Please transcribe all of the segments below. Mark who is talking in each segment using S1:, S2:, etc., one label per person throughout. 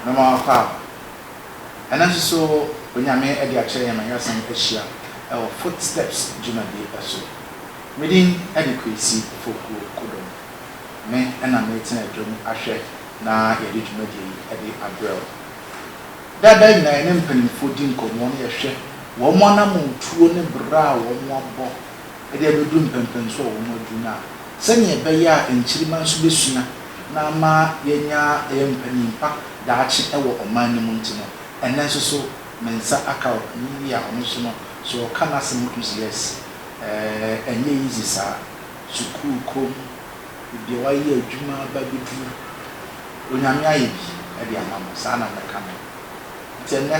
S1: Mema wo kwa. Ɛnnɛ nso so Onyame de akyerɛ yɛn ma yɛasan ahyia wɔ Footsteps dwumadie so. Me din ne Kwesi Fokuo Kodong. Me na meretena adwam ahwɛ na yɛde dwumadie yi de abrɛ wo. Da bɛn na yɛne mpanyimfo di nkɔmmɔ na yɛhwɛ wɔn anammɔntuo ne bra a wɔabɔ de abɛduru mpɛnpɛnsoɔ a wɔaduru no a, sɛnea ɛbɛyɛ a nkyirimma nso bɛsua na ama yɛanya ayɛ mpanin pa daakye wɔ ɔman no mu nti no, ɛnnɛ nso so me nsa aka ɔpanin yi a ɔno nso no, sɛ ɔka n'asɛm a wotumi sɛ yes, ɛɛ ɛnyɛ easy saa, sukuu kɔ mu. Ebia wayɛ adwuma aba abɛduru. Onyame ayɛ bi de ama mo. Saa na mɛka no. Nti ɛnnɛ,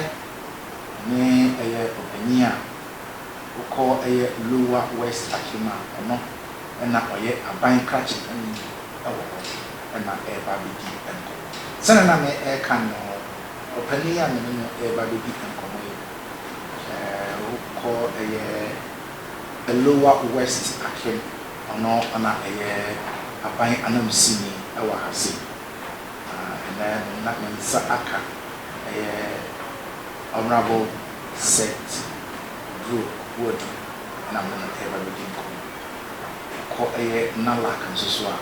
S1: ɛne ɛyɛ ɔpanyin a ɔkɔ ɛyɛ Lower West Akim a ɔno na ɔyɛ aban krakye panyin wɔ hɔ na ɛreba abɛdi nkɔmmɔ. Sɛnea na me reka no, ɔpanyin a me ne no reba abɛdi nkɔmmɔ yi, ɔkɔ ɛyɛ Lower West Akim Ɔno na ɛyɛ aban ananmusini wɔ ha sei, na ɛnnɛ na ne nsa aka ɛyɛ Honourable Seth Oburo Boadu na me ne no reba abɛdi nkɔmmɔ. Yɛkɔ ɛyɛ NALAC nso so a,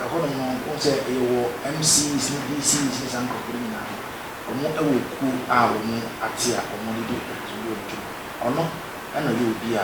S1: ɛhɔnom no wohu sɛ yɛwɔ MCs ne DCs ne saa nkurɔfoɔ no nyinaa no, wɔwɔ kuo a wɔate a wɔde di nkutoo yɛ wɔn adwuma. Ɔno na ɔyɛ obi a.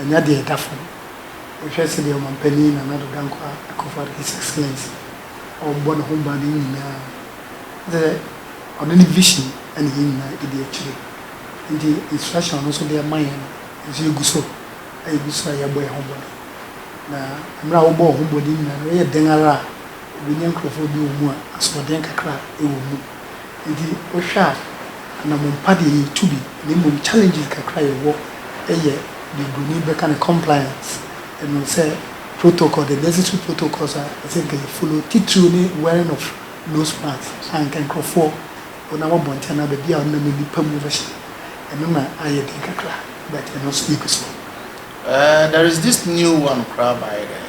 S2: ɛnyɛ deɛ ɛda fam. Wohwɛ sɛdeɛ Ɔmampanin Nana Addo Dankwa Akuffo-Addo, His Excellency, ɔrebɔ ne ho ban no nyinaa a, kyerɛ sɛ ɔno ne vision na yɛn nyinaa di akyire. Nti instruction a ɔno nso de ama yɛn no, yɛn nso yɛgu so a yɛgu so a yɛrebɔ yɛn ho mmɔden. Na mmerɛ a wobɔ wo ho mmɔden nyinaa no, woyɛ dɛn ara a, wobɛnya nkurɔfoɔ bi wɔ mu a asoɔden kakra wɔ mu. Enti wohwɛ a anammɔn pa deɛ yɛtu bi na mmom challenges kakra a yɛwɔ yɛ deɛ broni bɛka no compliance ɛno sɛ protocol the necessary protocols a ɛsɛ nka yɛ follow titiriw ne wearing of nose mask a nka nkurɔfoɔ wonam abɔnten anaa baabi a wonam nnipa mu bɛhyɛ ɛno na ayɛ den kakra but ɛno nso yɛgu so. There
S1: is this new one koraa baeɛ dɛn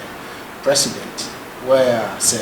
S1: president where a sɛ.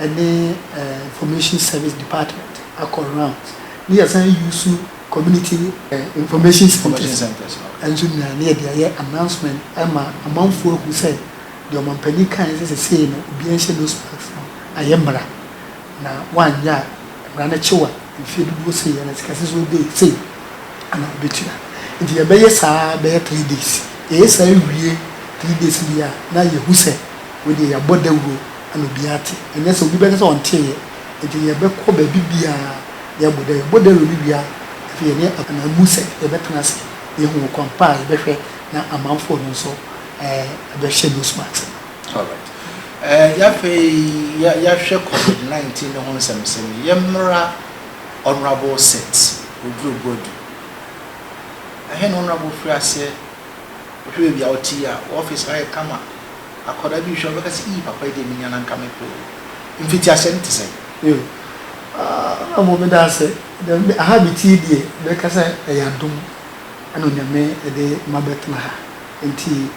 S2: ɛne eh information service department akɔ rounds ne yɛsan use community eh information centres nso nyinaa ne yɛde ayɛ announcement ama amanfoɔ ahu sɛ deɛ ɔmanpanin kaeɛ sɛ sesei no obiara nhyɛ nose mask no ayɛ mmara na woanyɛ a mmara no kye wo a mfeɛ dodoɔ sei anaa sikasɛ sɛ wode sei ana wobɛtua nti yɛbɛyɛ saa ara bɛyɛ three days yɛyɛ saa wie three days wie a na yɛhu sɛ wei deɛ yɛabɔ dawuro. na obiara ate. Ɛnyɛ sɛ obi bɛka sɛ ɔnteeɛ. Enti yɛbɛkɔ baabi biara na yɛabɔ dawuro. Yɛbɔ dawuro no wie a, afei yɛne ananmu sɛ yɛbɛtena ase na yɛahu ɔkwan pa a yɛbɛhwɛ na amanfoɔ no nso bɛhyɛ nose mask no. Alright. Ɛɛ,
S1: afei yɛahwɛ Covid nineteen no ho nsɛmnsɛm yi. Yɛmmra Honourable Seth Oduro Boadu. Ɛhe na Honourable firi aseɛ? Wohwɛ baabi a wote yi a, wo office no ayɛ kama? Akwadaa bi rehwɛ a, ɔbɛka sɛ, Ii, papa yi deɛ menya no anka mepɛ o. Mfitiaseɛ no te sɛn? Yiw,
S2: na mmom meda ase. Dɛm de, ha a mete yi deɛ, mɛka sɛ ɛyɛ adom na Onyame de ma bɛtena ha. Enti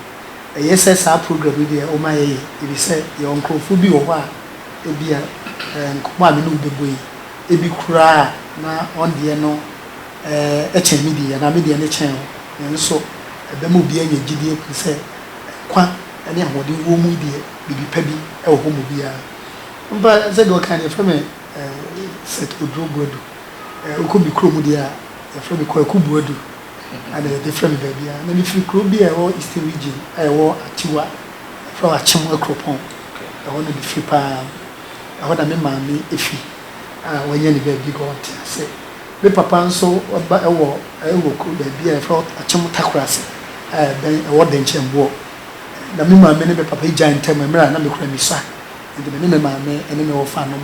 S2: eye sɛ saa program yi deɛ woma yɛyɛ, efisɛ yɛwɔ nkurɔfoɔ bi wɔ hɔ a ebia nkɔmmɔ a me ne wo bɛbɔ yi, ebi koraa na wɔn deɛ no kyɛn me deɛ yi, anaa me deɛ no kyɛn wɔn. Nanso, ɛbɛma obiara anya gyidie ahunu sɛ, nkwa ne ahoɔden wɔ mu yi deɛ, biribi pa bi wɔ hɔ ma obiara. Ampa, sɛdeɛ ɔkae no, wɔfrɛ me Seth Oduro Boadu. Wokɔ me kurom deɛ a, wɔfrɛ me Kwaku Boadu. Ɛna wɔde frɛ me baabiara. Na mefiri kuro bi a ɛwɔ Eastern Region a ɛwɔ Akyiwa, wɔfrɛ hɔ Akyem Akuropɔn. Ɛhɔ na mefiri paa. Ɛhɔ na me maame fi a wɔanya ne baabi hɔ ntease. Me papa nso ba wɔ wɔ kuro baabi a yɛfrɛ hɔ Akyem Takorase a ɛbɛn ɛwɔ Dɛnkyɛmboɔ. Na me maame ne me papa egyae ntɛm mmerɛ a na me kura nisa. Nti me ne me maame ne me wɔfa nom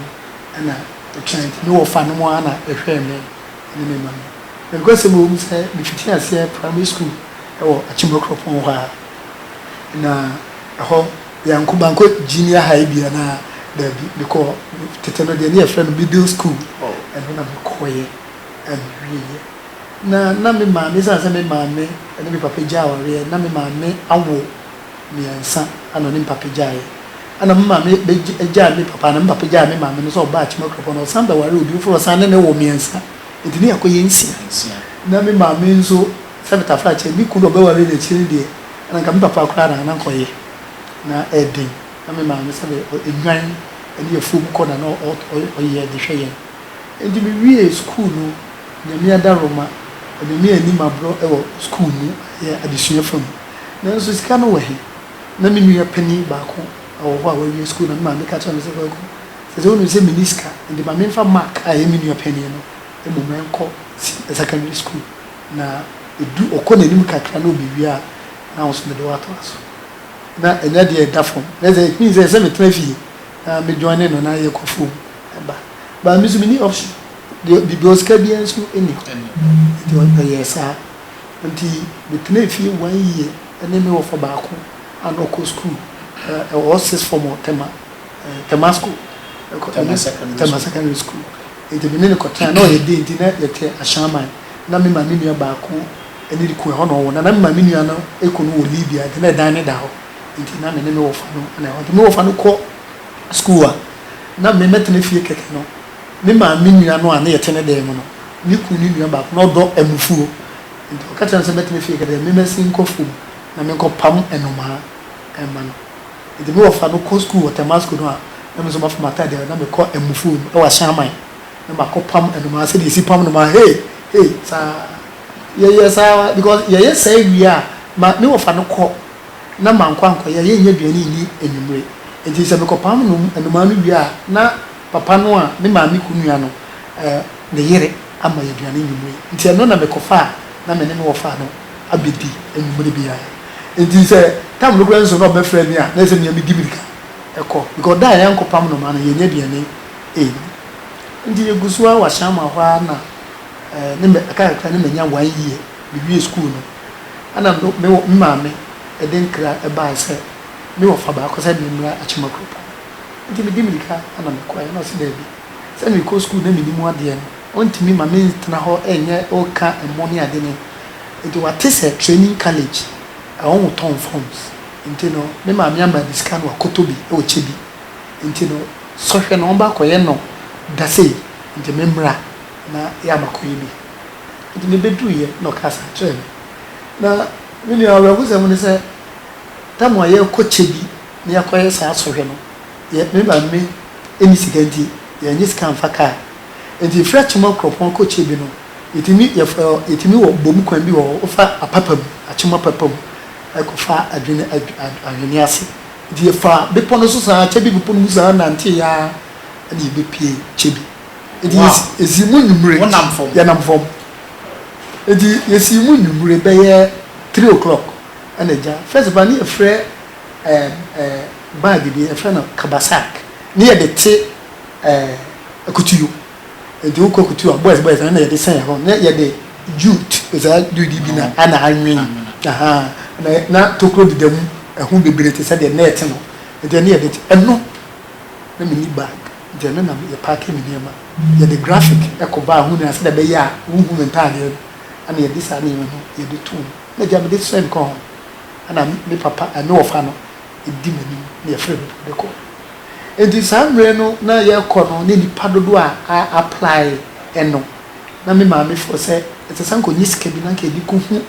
S2: na ɛtwɛn. Nti me wɔfa nom ara na ɛhwɛɛ me ne me maame. Na nokwasɛm wɔ mu sɛ me fiti aseɛ primary school wɔ Akyem Akuropɔn hɔ ara. Na ɛhɔ. Yɛanko mankɔ junior high bia na daabi mekɔɔ tete no deɛ ne yɛfrɛ no middle school ɛno na mekɔɔyɛ a mewieɛ na na me maame ɛsiane sɛ me maame ne me papa gya awareɛ na me maame awo mmiɛnsa ɛna ɔne me papa gyaeɛ ɛna me maame gyaa me papa ɛna me papa gyaa me maame no sɛ ɔbaa Akyima Kuropɔn na ɔsan bɛwaree obi foforɔ ɔsan ne ne wo mmiɛnsa nti ne yɛakɔyɛ nsia na me maame nso Sɛ me tafra kyɛ me kunu a ɔbɛware no akyiri no deɛ na nka me papa koraa na na nka ɔyɛ na ɛyɛ den na me maame sɛ deɛ ɛnwan ne afuom kɔ na na ɔyɛ de hwɛ yɛn nti me wiee sukuu no Nyame adaroma Onyame anni mabrɔ wɔ sukuu mu ɛyɛ adesua fa mu nanso sika no wɔ he na me nua panin baako wɔ hɔ a wawie sukuu na me maame ka kyerɛ me sɛ Kwaku sɛ sɛ wonim sɛ menni sika nti ma memfa mark a ɛyɛ me nua panin no mmom ɛnkɔ secondary sukuu. Na edu ɔkɔ n'anim kakra na obewie a, na wo nso mede wo atoa so. Na ɛnyɛ adeɛ a ɛda fam. Na ɛsɛ sɛ, means ɛsɛ sɛ metena fie na me joine no na yɛkɔ fam ba. But me nso menni option. Deɛ biribi ɔsika biara nso nni hɔ. Nti ɔyɛɛ saa. Nti metenaa fie one year ɛne me wɔfa baako a na ɔkɔ school ɛwɔ sixth form wɔ Tema, Tema school. Tema secondary school. Tema secondary school. Enti me ne no kɔtena. Ná ɔyɛ den, enti na yɛte ahyɛaman. Ná me maame nua baako ne ne kunu, ɛhɔ na wɔwɔ. Na na me maame nua no kunu no wɔ Libya, enti na dan no da hɔ. Enti na me ne me wɔfa no na ɛhɔ. Enti me wɔfa no kɔ sukuu a, na me mɛtena fie kɛkɛ no. Me maame nua no a na yɛte ne dan mu no, ne kunu ne nua baako, na ɔdɔ amufuo. Enti ɔka kyerɛɛ no sɛ mɛtena fie kɛkɛ dɛ, me mɛsen nkɔ afuom na menkɔpam nnomaa mma no. Enti me wɔfa no kɔ sukuu wɔ Tɛmasko no a, na me nso mafa m'ataade a na mekɔ amufoo no wɔ Ahyɛn Aman na makɔ pam nnomaa sɛdeɛ yɛsi pam nnomaa hei hei saa yɛyɛ saa ara because yɛyɛ saa wie a ma me wɔfa no kɔ na mankɔ ankɔyɛ a yɛnnya aduane nni anwummere enti sɛ mekɔpam nom nnomaa no wie a na papa no a me maame kunu nua no eh, ne yere ama yɛ aduane anwummere nti ɛno na mekɔfa a na me ne me wɔfa no abɛdi anwummere biara. Enti sɛ tam no koraa nso na ɔbɛfrɛ me a, na ɛsɛ sɛ mea medi mmirika kɔ, because da a yɛankɔpam nnomaa no, yɛannya aduane anni. Enti yɛgu so ara wɔ Ashaiman hɔ ara na ne mɛ, aka kakra na manya one year, mewiee sukuu no, ɛna me me maame de nkra baeɛ sɛ me wɔfa baako sɛ memmra Akyema Kuropɔn. Enti medi mmirika na mekɔeɛ, ɛna ɔse daabi, sɛ merekɔ sukuu na mennim adeɛ no, Ɔntumi ma me ntena hɔ nyɛ ɔka ɛmo ne ade no nti wate sɛ training college ɛwɔ mo tɔn forms nti no me maame ama bi sika no wakɔtɔ bi wɔ kyɛ bi nti no sɔhwɛ na ɔmba kɔyɛ no da sei nti me mmra na yɛ ama kɔyɛ bi nti me bɛduru yɛ na ɔkaa saa kyerɛ me na me nua awerɛho sɛm ne sɛ tam a yɛ kɔ kyɛ bi na yɛ kɔyɛ saa sɔhwɛ no yɛ me maame ɛni sika nti yɛ nyɛ sika mfa kaa. Enti frɛ kyema kuropɔn kɔ kyɛ bi no yɛtumi yɛfrɛ yɛtumi wɔ bom kwan bi wɔ hɔ wofa apapa mu akyema papa mu ɛkɔ fa adwene ahwene ase nti yɛfa bepɔ no so saa kyɛ bi bepɔ no mu saa nante yaa ɛna yɛbɛ pie kyɛ bi nti yɛsi mu nwumire yɛnam fam nti yɛsi mu nwumire bɛyɛ three o'clock ɛna ɛgya first of all ne yɛfrɛ ɛɛ ɛɛ bag bi yɛfrɛ no kabasak ne yɛde te. Ɛɛ, akutuo. Nti wo kɔ kutuo a, boys boys na yɛde sɛn hɔ. Na yɛde jute, saa jute bi na na anwen. Ahaa, na na tokuro deda mu, ɛho bebree te sɛ deɛ net no. Nti ɛno yɛde, ɛno, na me nni bag. Nti ɛno na yɛ paake me nneɛma. Yɛde graphic kɔ baa ho nyinaa sɛdeɛ ɛbɛyɛ a wonhu me ntaadeɛ no. Ɛna yɛde saa nneɛma no, yɛde to mu. Ɛna gya mede sɛn kɔ hɔ. Ɛna me papa, me wɔfa no. ɛdi m'anim na yɛfrɛ me mpo de kɔ. Enti saa mmerɛ no na yɛkɔ no ne nnipa dodoɔ a a apply no na me maame fɔ sɛ ɛsɛ sɛ anka ɔnya sika bi na anka yɛde kɔhu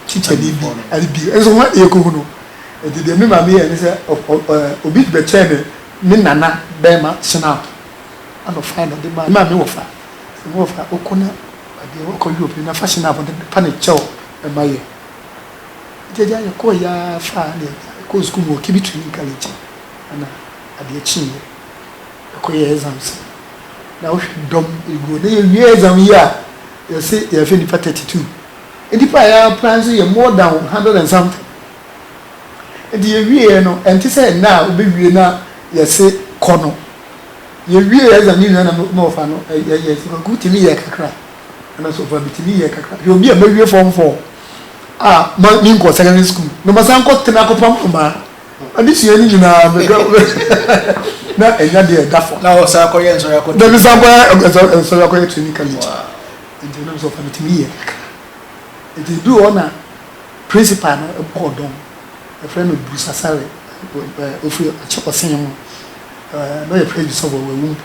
S2: tikyani bi ade bi nso hwan na yɛkɔhu no? Enti deɛ me maame yɛɛ ne sɛ obi bɛkyɛɛ me me nana barima snap ɛna ɔfaeɛ na ɔde maa me maame wɔfa sɛ me wɔfa wokɔ na baabi a woakɔ Europe no na fa snap no fa ne kyɛw ma yɛn. Gyagya yɛkɔɔeɛ ara faa deɛ yɛkɔɔ sukuu mu wɔ Kibitri ne Nkalenkyɛ ɛna adeɛ kyeeɛ yɛkɔyɛɛ exams no na wohwɛ dɔm ɛguo na yɛwie exam yi a yɛse yɛfɛ nnipa 32 nnipa a yɛapply nso yɛ more than 100 and something nti yɛwieɛ no ɛnte sɛ ɛnɛ a wobɛwie na yɛse kɔ no yɛwie exam no nyina na mewɔfa no yɛyɛ sɛ kwaku tumi yɛɛ kakra ɛna sofa metumi yɛɛ kakra hwɛ obi a mawie form 4 a ma me nkɔ secondary school na ma san kɔ tena kɔpam mmaa ade sua ne nyinaa mekɔ na ɛnya deɛ ɛda fam na ɔsan akɔyɛ nsɔre
S1: akɔ na me san kɔyɛ
S2: nsɔre akɔyɛ training college nti nam sɛ ɔfa metumi yɛ kakra nti edu hɔ na principal no bɔɔ dɔm ɛfrɛ no Bruce Asare ofiri akyɛ ɔsen mu na ɔyɛ president of ɔwɔ mpo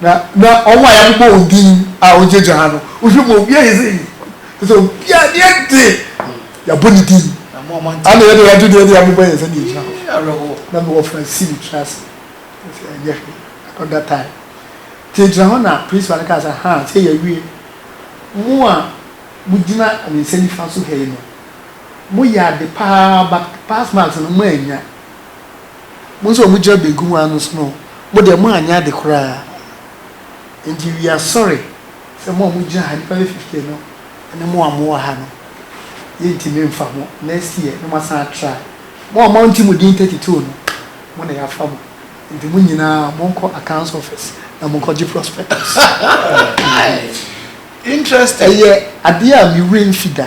S2: Na na wɔn a yɛabobɔ wɔn din a wɔgyinagyina ha no, wohwɛ mu a, obiara ayɛ sei. Kyerɛ sɛ obiara ne yɛ de, yɛabɔ ne din. Ana yɛn
S1: deɛ yɛagye deɛ de
S2: abobɔ yɛn nsa na yɛgyina hɔ. Na mewɔ
S1: Francine
S2: metena ase. Sɛ ɛnyɛ hwee, I got that time. Nti yɛgyina hɔ na principal no kaa sɛ, Ha, sɛ yɛawie. Mo a mogyina me nsa nifa so ha yi no, moyɛ ade paa but pass marks no moannya. Mo nso a mo gyina benkum hɔ ara nso no, mo deɛ mo anyɛ ade koraa. Enti we are sorry sɛ mo a mo gyina ha, nnipa bɛyɛ fifteen no, ɛne mo a mo wɔ ha no, yɛntumi mfa mo, next year na mo asan atra. Mo a mo ante mo din thirty two no, mo na yɛafa mo. Enti mo nyinaa mo nkɔ accounts office na mo nkɔgye prospectus.
S1: Interesting. Ɛyɛ adeɛ a me
S2: werɛ mfi da.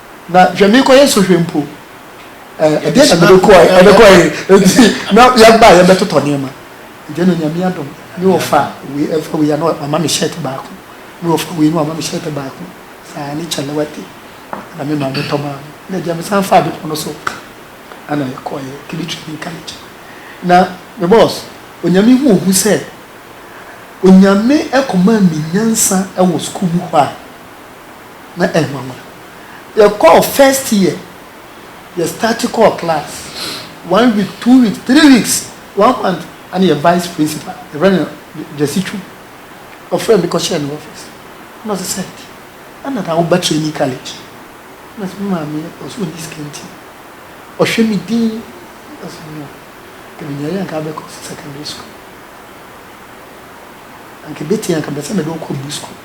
S2: Na hwɛ merekɔyɛ sɔhwɛ mpo ɛ ɛdeɛ na mede kɔɛ ɛde kɔɛ eti na yɛba yɛbɛtotɔ nneɛma ɛdeɛ na nyame adom ne wɔfa wei ɛfa wei ano wama me shirt baako ne wɔfa wei ne wama me shirt baako saa ne kyalawate na me maame tɔ maa me na ɛdeɛ mesan fa bepɔ no so ana yɛkɔɛ kiri training college na me boss onyame hu ohu sɛ onyame ɛkɔmaa me nyansa ɛwɔ sukuu mu hɔ a na ɛnwanwa. Yɛkɔɔ first year, yɛ start kɔɔ class, one week, two weeks, three weeks, one month ana yɛ vice principal, yɛfrɛ no Gyasi Twum, ɔfrɛɛ me kɔhyɛɛ ne office, na ɔse sɛ, ana na woba training college? Na ɔse me maame yɛ, ɔse ɔnni sika nti ɔhwɛ me din, na ɔse no, nka menyaeɛ anka abɛkɔ secondary school, anka ɛbɛtumi anka mepɛsɛ mede wo kɔ bu school.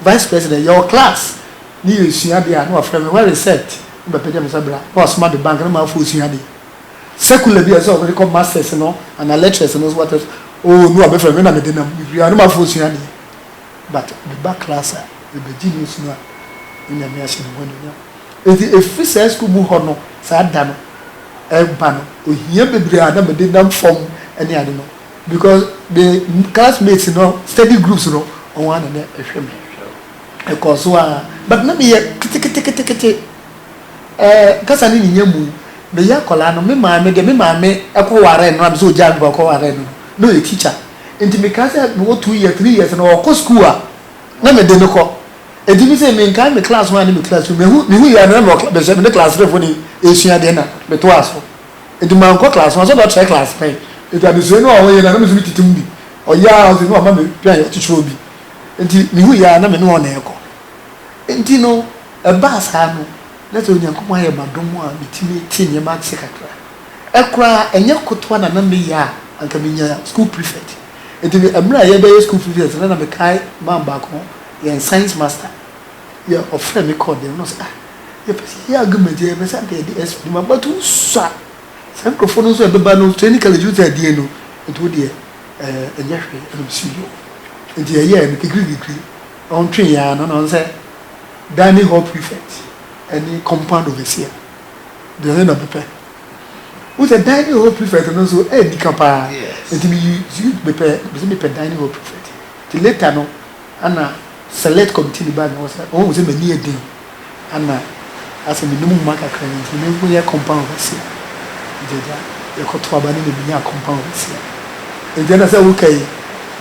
S2: Vice president, Yɛwɔ class ne yɛresua ade a na wafrɛ me, Where is Seth? Na mapagya me nsa, Bra. Na wasoma de bank na ma afo resua ade. Secular bi a ɛsɛ sɛ ɔde kɔ masters no anaa lectures no so what else, oh na wabɛfrɛ me na mede nam. Mefiri hɔ na mafo resua ade. But meba class a, mebɛgye news no a, na Nyame ahyɛ ne ho anuonyam. Enti ɛfiri saa school mu hɔ no, saa da no, ɛreba no, ohia bebree a na mede nam fam ne ade no, Because me classmates no study groups no wɔn ara na na ɛhwɛ me. Ɛkɔɔ so ara but na meyɛ keteketekete. Ɛɛ kasa no nnya mu. Meyɛ akwadaa no me maame deɛ me maame kɔwaree no a me sɛ ɔgyaa me papa kɔwaree no no na ɔyɛ teacher nti mekaa sɛ mewɔ two years three years no ɔkɔ school a na mede no kɔ nti me sɛ menkae me class one ne me class two mehu mehu yɛ a na mewɔ cla mesɛ me ne class three foɔ no resua adeɛ na metoaa so. Enti mankɔ class, mansɔ do akyerɛ class pɛn. Enti adesuae no a ɔyɛ no a na me so mitsitsi mu bi, ɔyɛ a ɔdze no ɔma me peae ɔtsetserɛw bi. Ntsi muhui a na me no ɔna ɛkɔ. Ntsi no ɛbaa saa no na dza Onyankopɔn ayɛ m'adom a metsimi tse ndzɛmba ase kakra. Ɛkora a nnyɛ kotoa na na meyɛ a anka menya school prefect. Ntsi mber a yɛbɛyɛ school prefect no na mekae man baako, yɛn science master, yɛ ɔfrɛ me kɔɔ dan mu na ɔse ah, Yɛpɛ sɛ yɛyɛ agumadie, yɛpɛ sɛ anka yɛde ɛso adwuma but wosua saa nkurɔfoɔ no nso a ɛbɛba no training college wosɛ ɛdeɛn no nti wodeɛ ɛɛ ɛnyɛ hwee ɛna ɔsi yo nti yɛyɛɛ no kikiri kikiri ɔntwee yɛn ano na ɔn sɛ dining hall prefect ɛne compound overseer deɛ ɔyɛ na mepɛ wosɛ dining hall prefect no nso ɛyɛ nika paa nti meyi mepɛ mepɛ dining hall prefect nti later no Ana select committee no bae no wɔsɛ wɔhu sɛ m'ani yɛ den ana asɛ menom nwoma kakra yi nti menkɔ nyɛ compound overseer nti agya yɛkɔto aba ne na menyaa compound overseer nti ɛna sɛ woka yi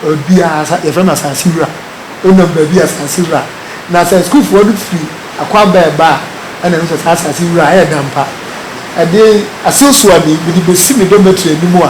S2: baabi a asa yɛfrɛ no asase wura wonam baabi a asase wura na sɛ sukuufoɔ no firi akwaaba ɛba a ɛna ɛno sɛ saa asase wura ɛyɛ dampa ɛde aseosuani mede bɛsi me dormitory anim a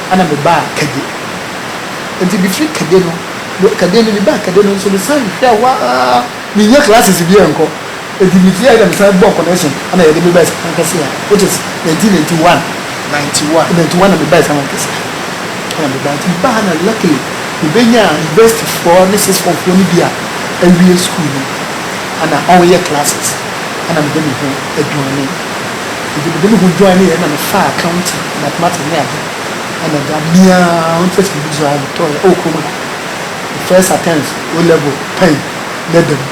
S2: Ɛna mebaa Kade. Enti mefiri Kade no, me, Kade no, mebaa Kade no nso mesan hwɛ hɔ ara, mennya classes biara nkɔ. Enti mefiri hɔ a ɛna mesan bɔɔ connection ɛna yɛde me baa Asamoah Kɛseɛ ha, which is 1991. 91. 91 na mebaa Asamoah Kɛseɛ ha. Ɛna mebaa, nti mebaa ha na luckily mebɛnyaa university foɔ ne sixth form foɔ no bi a awie school no ɛna wɔyɛ classes ɛna mede me ho aduane. Ntsi mede moho duae ne yɛe na mefaa accounting, mathematics ne adze na medze amia ho ntsetse mu dzi aa motɔɔ yɛ wɔ kurom ha. Me first attempt O level pɛn na da mu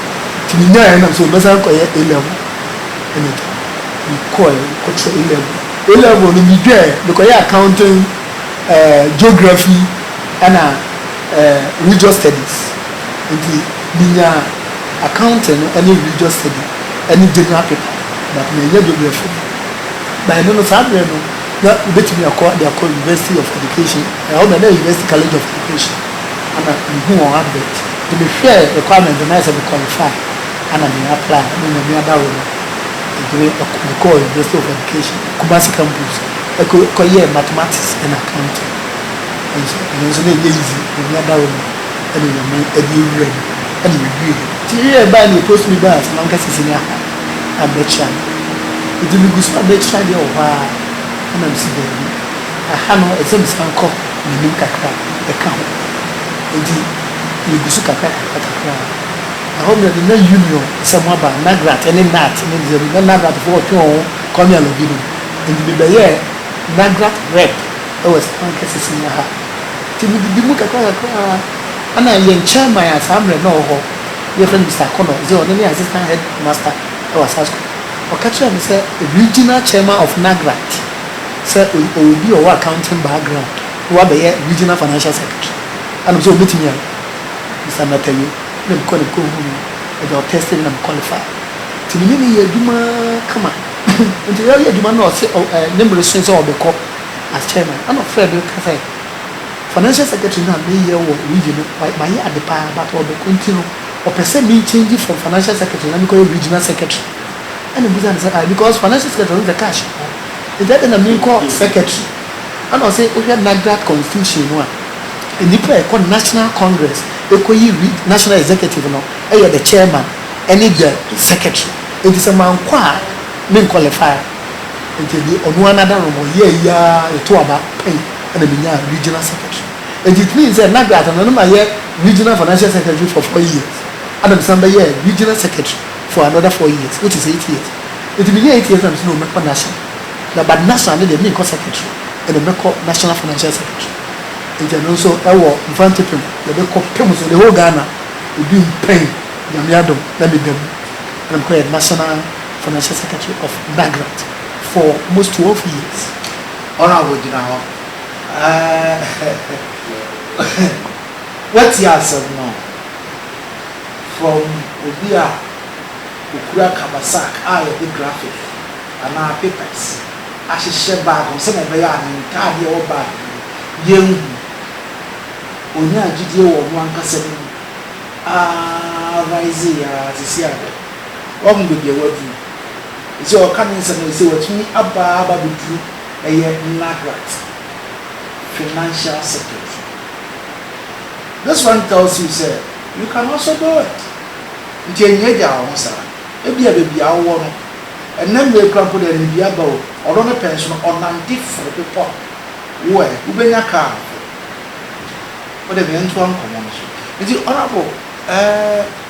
S2: ntsi minyae a na mese mɛsan akɔyɛ A level na m'egya. Mokɔe kɔkyerɛ A level, A level no meduae mekɔyɛɛ accounting, eh, geography na eh, religious studies ntsi. Minyaa accounting no ne religious study ne general paper but manyɛ geography no. But ɛno no saa berɛ no na wobɛtumi akɔ de akɔ university of education, ɛhɔ na na university college of education ɛna mehuu wɔn advert nti mehwɛɛ requirement no na ayɛ sɛ me qualify ɛna me apply ɛna Nyame adaworo no nti me mekɔɔ university of education Kumasi campus ɛkɔ kɔyɛɛ mathematics and accounting ɛnso ɛno nso na ɛnyɛ easy Nyame adaworo no. ɛne nyame ɛde awura mu ɛne yɛwie nti yei a ɛbaɛ no yɛpost me bars na menka sɛsɛ ni aha a mɛtra no nti megu so a mɛtra deɛ wɔ hɔ ara ɛna mese daabi aha no ɛsɛ mesan kɔ m'anim kakra ɛka ho nti yɛgu so kakra kakra kakra ɛhɔ mmerɛ de na union sɛ mo aba nagrat ɛne nat ne deɛ na nagrat foɔ ɔtwe wɔn ho kwame alɔbi no nti mebɛyɛɛ nagrat rep Wɔ Spain kɛse sin wɔ ha. Nti mididi mu kakra kakra a na yɛn chairman a saa mmerɛ no na ɔwɔ hɔ yɛfrɛ no Mister Akonnor ɔse ɔno ne assistant head master wɔ Asas school ɔka kyerɛɛ me sɛ regional chairman of NAGRAT sɛ ɔwɔ obi a ɔwɔ accounting background na wabɛyɛ regional financial secretary ɛna ɔse ɔbɛtumi ayɛ Mister Nataye ɛna mekɔɔ na mekɔ huu no ɛde ɔtɛste me na me qualify nti me ne no yɛ adwuma kama nti yɛyɛ adwuma no na ɔse ne mmere soe sɛ ɔbɛkɔ Akyɛ no, nna ɔfrɛɛ me ka sɛ, Financial Secretary no a meyɛ wɔ region no, mayɛ ade paa but ɔdɔkɔ nti no, ɔpɛ sɛ me change from Financial Secretary na mekɔyɛ Regional Secretary. Ɛna mebisaa no sɛ, Ae, because Financial Secretary no deɛ cash wɔ hɔ, nti adɛn na menkɔ Secretary? Ɛna ɔse, Wohwɛ NAGRAT Constitution no a, nnipa a ɛkɔ National Congress kɔyi National Executive no yɛ the Chairman ne the Secretary, nti sɛ mankɔ a menqualify. Enti ɛdeɛ ɔno ara n'adarom, ɔyɛɛ ayi ara yɛtoo aba pɛn na menyaa Regional Secretary. Enti it means sɛ na Garth no, na mayɛ Regional Financial Secretary for four years ɛna mesan bɛyɛɛ Regional Secretary for another four years which is eight years. Enti menyaa eight years na mese no mɛkɔ National na but National no deɛ menkɔ Secretary ɛna mɛkɔ National Financial Secretary. Enti ɛno nso ɛwɔ Mfantsipim yɛde kɔ pɛ mu so the whole Ghana, ebi mu pɛn Nyame adom na meda mu ɛna mekɔyɛɛ National Financial Secretary of Nagrad for most twelve years. Ɔno a
S1: ɔgyina hɔ ɛɛɛɛɛ woatie asɛm no from obi a ɔkura kabasak a yɛde graphic anaa papers ahyehyɛ bag ho sɛdeɛ ɛbɛyɛ a ne ntaadeɛ a ɛwɔ bag no mu yɛnhu. Ɔnyaa gyidie wɔ ɔno ankasa ne mu aa riseeɛ aa seesei a Woahu baabi a woaduru? Ese ɔreka ne nsɛm no, ese watumi aba ara aba abɛduru ɛyɛ NAGRAT, Financial Secretary. This one tells you sɛ you can also do it. Nti ɛnnyagyaa wo ho saa. Ebia baabi a wowɔ no, ɛnnɛ mmerɛ yi koraa mpo deɛ anibue aba o, ɔdɔ no pɛ nso no, ɔnante foro bepɔ a, wo ɛ, wobɛnya kaa mpo. Wode me ntoa nkɔmmɔ no so. Nti Honourable, ɛɛ.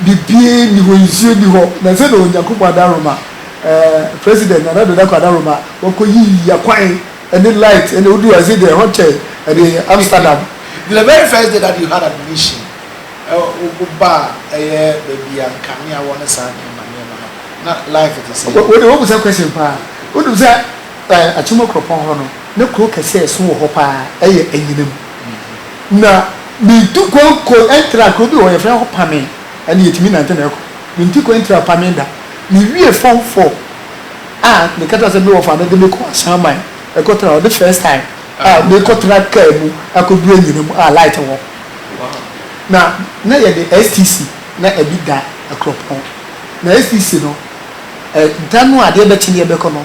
S2: Biribiara nni hɔ, nsuo nni hɔ. Na ɛsɛ na Onyankopɔn adaworoma, eh, President Nana Addo Dankwa adaworoma, wɔkɔyi akwan ne light ne woduru ase deɛ ɛhɔ kyɛn ɛde Amsterdam. The very first
S1: day that you had admission, eh, woba a, ɛyɛ baabi a nkanea wɔ ne saa nneɛma
S2: nneɛma no, na life te sɛ. Wo deɛ woabisa question paa. Wonim sɛ, eh, Akyem Akuropɔn hɔ no, na kuro kɛse a ɛso wɔ hɔ paa yɛ Anyinam. Na metu kwan kɔ tra kuro bi wɔ hɔ, wɔfrɛ hɔ Pame. Ɛnna yɛtumi nante na ɛkɔ. Metu kwan tra Pame da. Mewie Form Four a, ne kata sɛ me wɔfa no de me kɔ Asanman kɔtra hɔ. Ne first time a mekɔtra kaa mu akɔduru anyinam a light wɔ hɔ. Na na yɛde STC na ɛde da Akuropɔn. Na STC no, da no a adeɛ bɛkye na yɛbɛkɔ no,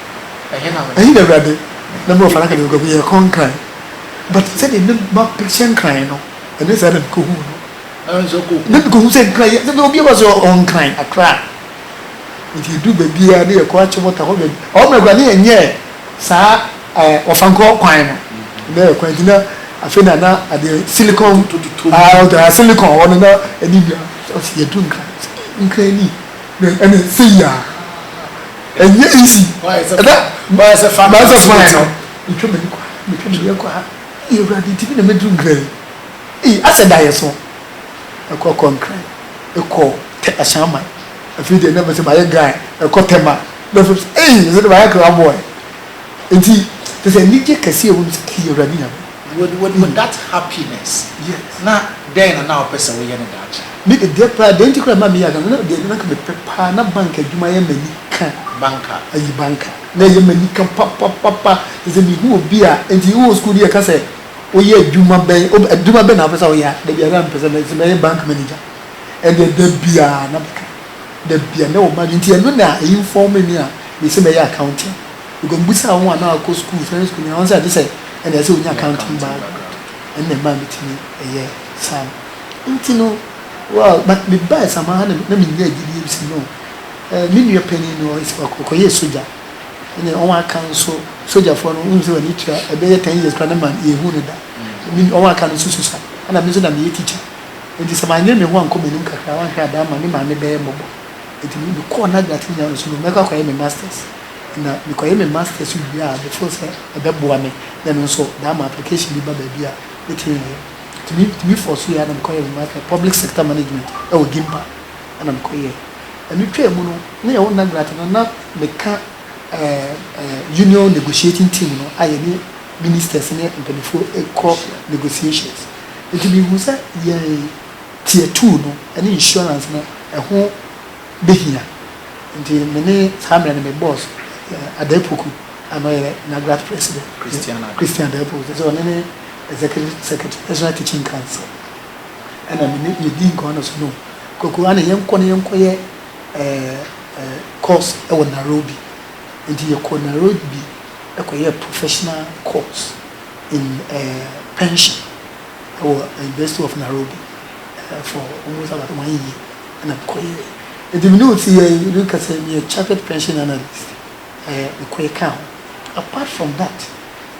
S2: Ɛhe na Awurade na me wɔ fana ka deɛ mekɔhu yɛ kɔn nkran but sɛdeɛ na ma picture nkran no ɛnyɛ saa na mekɔhu no na mekɔhu sɛ nkran yɛ na obi ɛwɔ sɛ ɔwɔ nkran akra nti ɛduru baabi a ne yɛ kɔ akye mɔta hɔ baabi ɔwɔ mmerɛ kora ne yɛ nyɛ saa ɔfankɔ kwan no na yɛ kwan nti na afei na na adeɛ silicon silicon hɔ no na ɛne nua yɛduru nkran nkran ni ɛne sɛ yia ɛnyɛ easy ɛda mayɛ sɛ fa mayɛ sɛ fa yɛ no metwa m'ani kɔ metwa m'ani kɔ ha ee awurade ti bi na mɛduru nkran ee asɛ da yɛ so ɛkɔ kɔ nkran ɛkɔ tɛ ahyɛnma afei deɛ na mɛ sɛ mayɛ guy ɛkɔ tɛma na fɛ ee sɛ de mayɛ kra boy nti te sɛ anigye kɛseɛ wɔ mu sɛ ee awurade nyame Would would would that happiness Yes. na dɛn na na wopɛ sɛ woyɛ no daakye? Me de deɛ paa deɛ nti koraa mmaa me yɛ akan na deɛ na nka mepɛ paa na bank adwuma yɛ m'ani ka. Banka. Ayi banka na ɛyɛ m'ani ka papapapa te sɛ mehu obi a nti wowɔ sukuu deɛ ka sɛ woyɛ adwuma bɛn ob adwuma bɛn na wopɛ sɛ woyɛ a da biara na mepɛ sɛ mɛ sɛ mɛyɛ bank manager ɛndeɛ da biara na meka da biara na ɛwɔ m'adwene nti ɛno na ɛinfɔɔme me a mese mɛyɛ accounting. Because mibisaa wɔn a na wɔakɔ sukuu, secondary school nyinaa, wɔn sɛ gye sɛ ɛnna ɛsɛ sɛ onya accounting background. Ɛno na ɛmaa mitumi yɛɛ saa no. Nti no, well, but mebae saa ma ha na na minyaa gyidie bi sɛ no, eh, me nua panin no, ɔyɛ sɛ wakɔ, ɔkɔyɛɛ sogya. Ɛnna wɔn aka nso, sogyafoɔ no, wonim sɛ wɔn ani tua, ɛbɛyɛ ten years koraa na ma yɛnhu no da. Me, wɔn aka no nso susua. Ɛnna me nso na meyɛ teacher. Nti sɛ manyere me ho ankɔ m'anim kakra a, wanhwɛ a, daa ma me maame bɛyɛ mmɔbɔ. Nti me, mekɔɔ n'agyinatuo nyaa no sɛ no, mɛkɔ akɔyɛ me masters. na mekɔyɛ me masters so wie a me feel sɛ ɛbɛboa me na ɛno nso daa ma application bi ba baabi a mɛtumi ayɛ ɛtumi ɛtumi fɔɔ so yɛ a na mekɔyɛ me masters public sector management ɛwɔ gimpa ɛna mekɔ yɛ ɛno twaa mu no ne yɛwɔ nagrate no na meka ɛɛ union negotiating team no a yɛne ministers ne mpanyinfoɔ ɛkɔ negotiations ɛti mehu sɛ yɛn tier two no ɛne insurance no ɛho. behia. Enti me ne saa mmerɛ no me boss Adair Poku a na ɔyɛ Nagrach president, Christian Adair, Christian Adair Poku, kyerɛ sɛ ɔne ne executive secretary, National Teaching Council, ɛna me ne yɛdi nkɔmmɔ no so no Kwaku ane yɛnkɔ na yɛnkɔyɛ course wɔ Nairobi. Enti yɛkɔɔ Nairobi kɔyɛɛ professional course in pension wɔ University of Nairobi for almost about one year. na mekɔyɛe. Enti mene osi yɛe, obi ka sɛ meyɛ chartered pension analyst, ɛɛ mekɔyɛ kaa ho. Apart from that,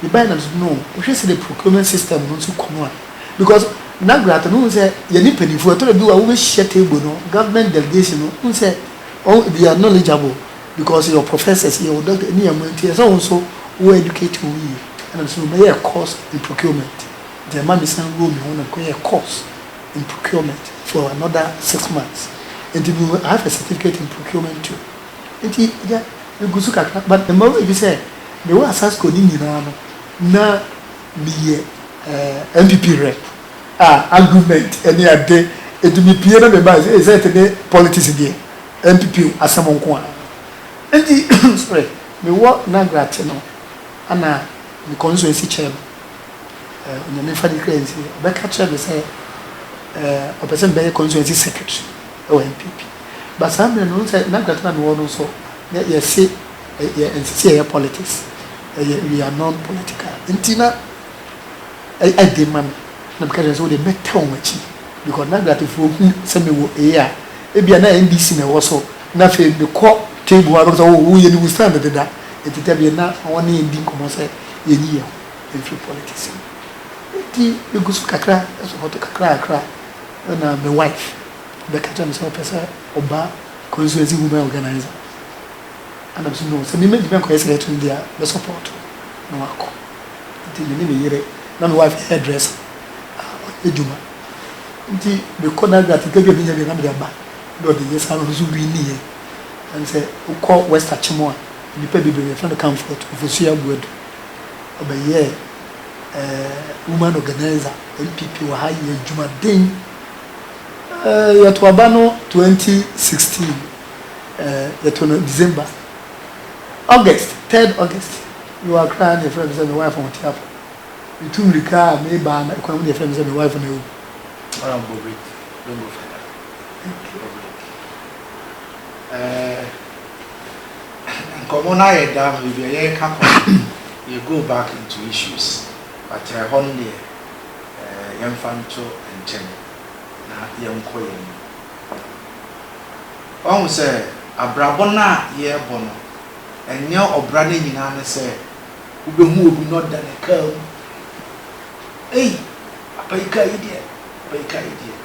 S2: mebae na mesɛ no, wohwɛ sɛdeɛ procurement system no nso kɔ no a, because Nagrata no wohu sɛ yɛne mpaninfoɔ, ɛtɔ da bi wɔ a wobɛhyia table no, government delegation no, wohu sɛ wɔn they are knowledgeable because yɛwɔ professors, yɛwɔ doctors, ɛne yɛn mma nti ɛsɛ sɛ wo nso wo educate wo ho yie. Ɛna mesɛ no mɛyɛ course in procurement, nti ɛma mesan woo me ho na mekɔyɛɛ course. in procurement for another six months nti me I have a certificate in procurement too nti yɛ me gu so kakra but mma wo nyi sɛ me wɔ asasco ne nyinaa no na me yɛ eh, NPP rep a argument ɛne ade nti me pie na me ba sɛ sɛ te ne politics deɛ NPP asɛm nko a nti sorry me wɔ Nagra te no ana me constituency chairman eh, Onyame mfa ne kra nsie, ɔbɛka kyerɛ me sɛ eh, ɔpɛ sɛ mbɛyɛ constituency secretary ɛwɔ NPP. Ba saa mmerɛ no, sɛ n'agrato na mewɔ no nso, na yɛse yɛ ɛnsɛ sɛ yɛyɛ politics, ɛyɛ we are non-political. Nti na ɛyɛ den ma me, na meka kyerɛ sɛ wode mɛtɛ wɔn akyi because n'agratofoɔ hu sɛ mewɔ ee a, ebia na NDC na ɛwɔ so, na afei mekɔ table a, bɛka sɛ oh, woyɛ ne wo stand deda, nti tɛbie na wɔne yɛn di nkɔmmɔ sɛ yɛnyi yɛn ho. mefiri politics mu nti megu so kakra support kakrakra ɛna me wife bɛka kyerɛ me sɛ ɔpɛ sɛ ɔba constituency women organizer ɛna me so no sɛ meme ntumi nkɔyɛ sɛ ɛto deɛ me support na wakɔ nti me ne me yere na me wife yɛ dresser ɔyɛ adwuma nti mekɔ na adwuma sika bi a menya bi na mede aba na ɔde yɛ saa na ɔno so wi ne yɛ ɛne sɛ wokɔ west akyem a nnipa bebree yɛfrɛ no kamfoɔ to mfosua abuadu ɔbɛyɛɛ eh, woman organizer, NPP wɔ ha yɛ adwumaden. Eh, yɛto aba no 2016, eh, yɛto no December. August, 3rd August, mewɔ akra na yɛfrɛ me sɛ me wife ho teafo. Metu mmirika a mebaa na ɛkwan mu na yɛfrɛ me sɛ me wife no awu. Ah, Bobrik, don't go further. Thank you.
S1: Bobrik. Eh, Nkɔmmɔ no ayɛ daa ma baabi a yɛreka kɔ no yɛ go back into issues but ɛhɔ no deɛ yɛmfa nto nkyɛn na yɛnkɔ yɛn anim. Wahu sɛ abrabɔ no a yɛrebɔ no ɛnyɛ ɔbra no nyinaa ne sɛ wobɛhu obi na ɔda ne kaa mu ei apa yi kaa yi deɛ apa yi kaa yi deɛ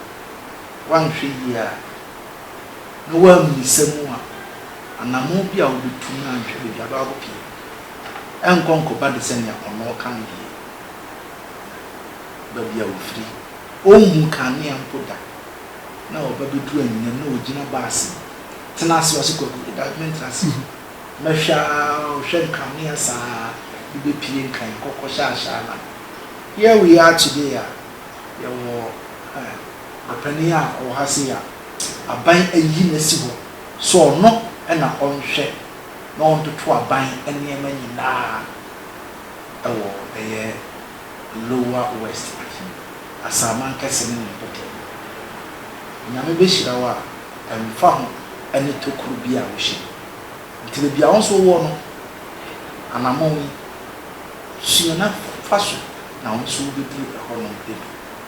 S1: wanhwɛ yie a na woammisa mu a, anammɔn bi a wobetu no anhwɛ baabi a abɛwɔ akɔpue no, ɛrenkɔ nkɔba de sɛnea ɔnɔɔ kan deɛ baabi a ofiri. Onhuu kanea mpo da, na ɔba bedu anyinam na ogyina ba ase tena ase. Ɔse, Kwaku, yɛ daakye mentra ase. Mɛhwɛ ara, ɔhwɛ nkanea saa ara, de bepue nkan, kɔkɔ hyɛ ahyɛ anan. Here we are today a yɛwɔ eh. Ɔpanin a ɔwɔ ha sei a aban ayi no asi hɔ sɛ ɔno na ɔnhwɛ na ɔntoto aban nneɛma nyinaa wɔ ɛyɛ Lower West Afi Asaman kɛse no ne mpɔtam no. Nyame bɛhyira wo a ɛmfa ho ne tokuro bi a wohyɛ mu. Nti baabi a wo nso wowɔ no anamɔn yi sua na fa so na wo nso wobɛduru ɛhɔnom bi.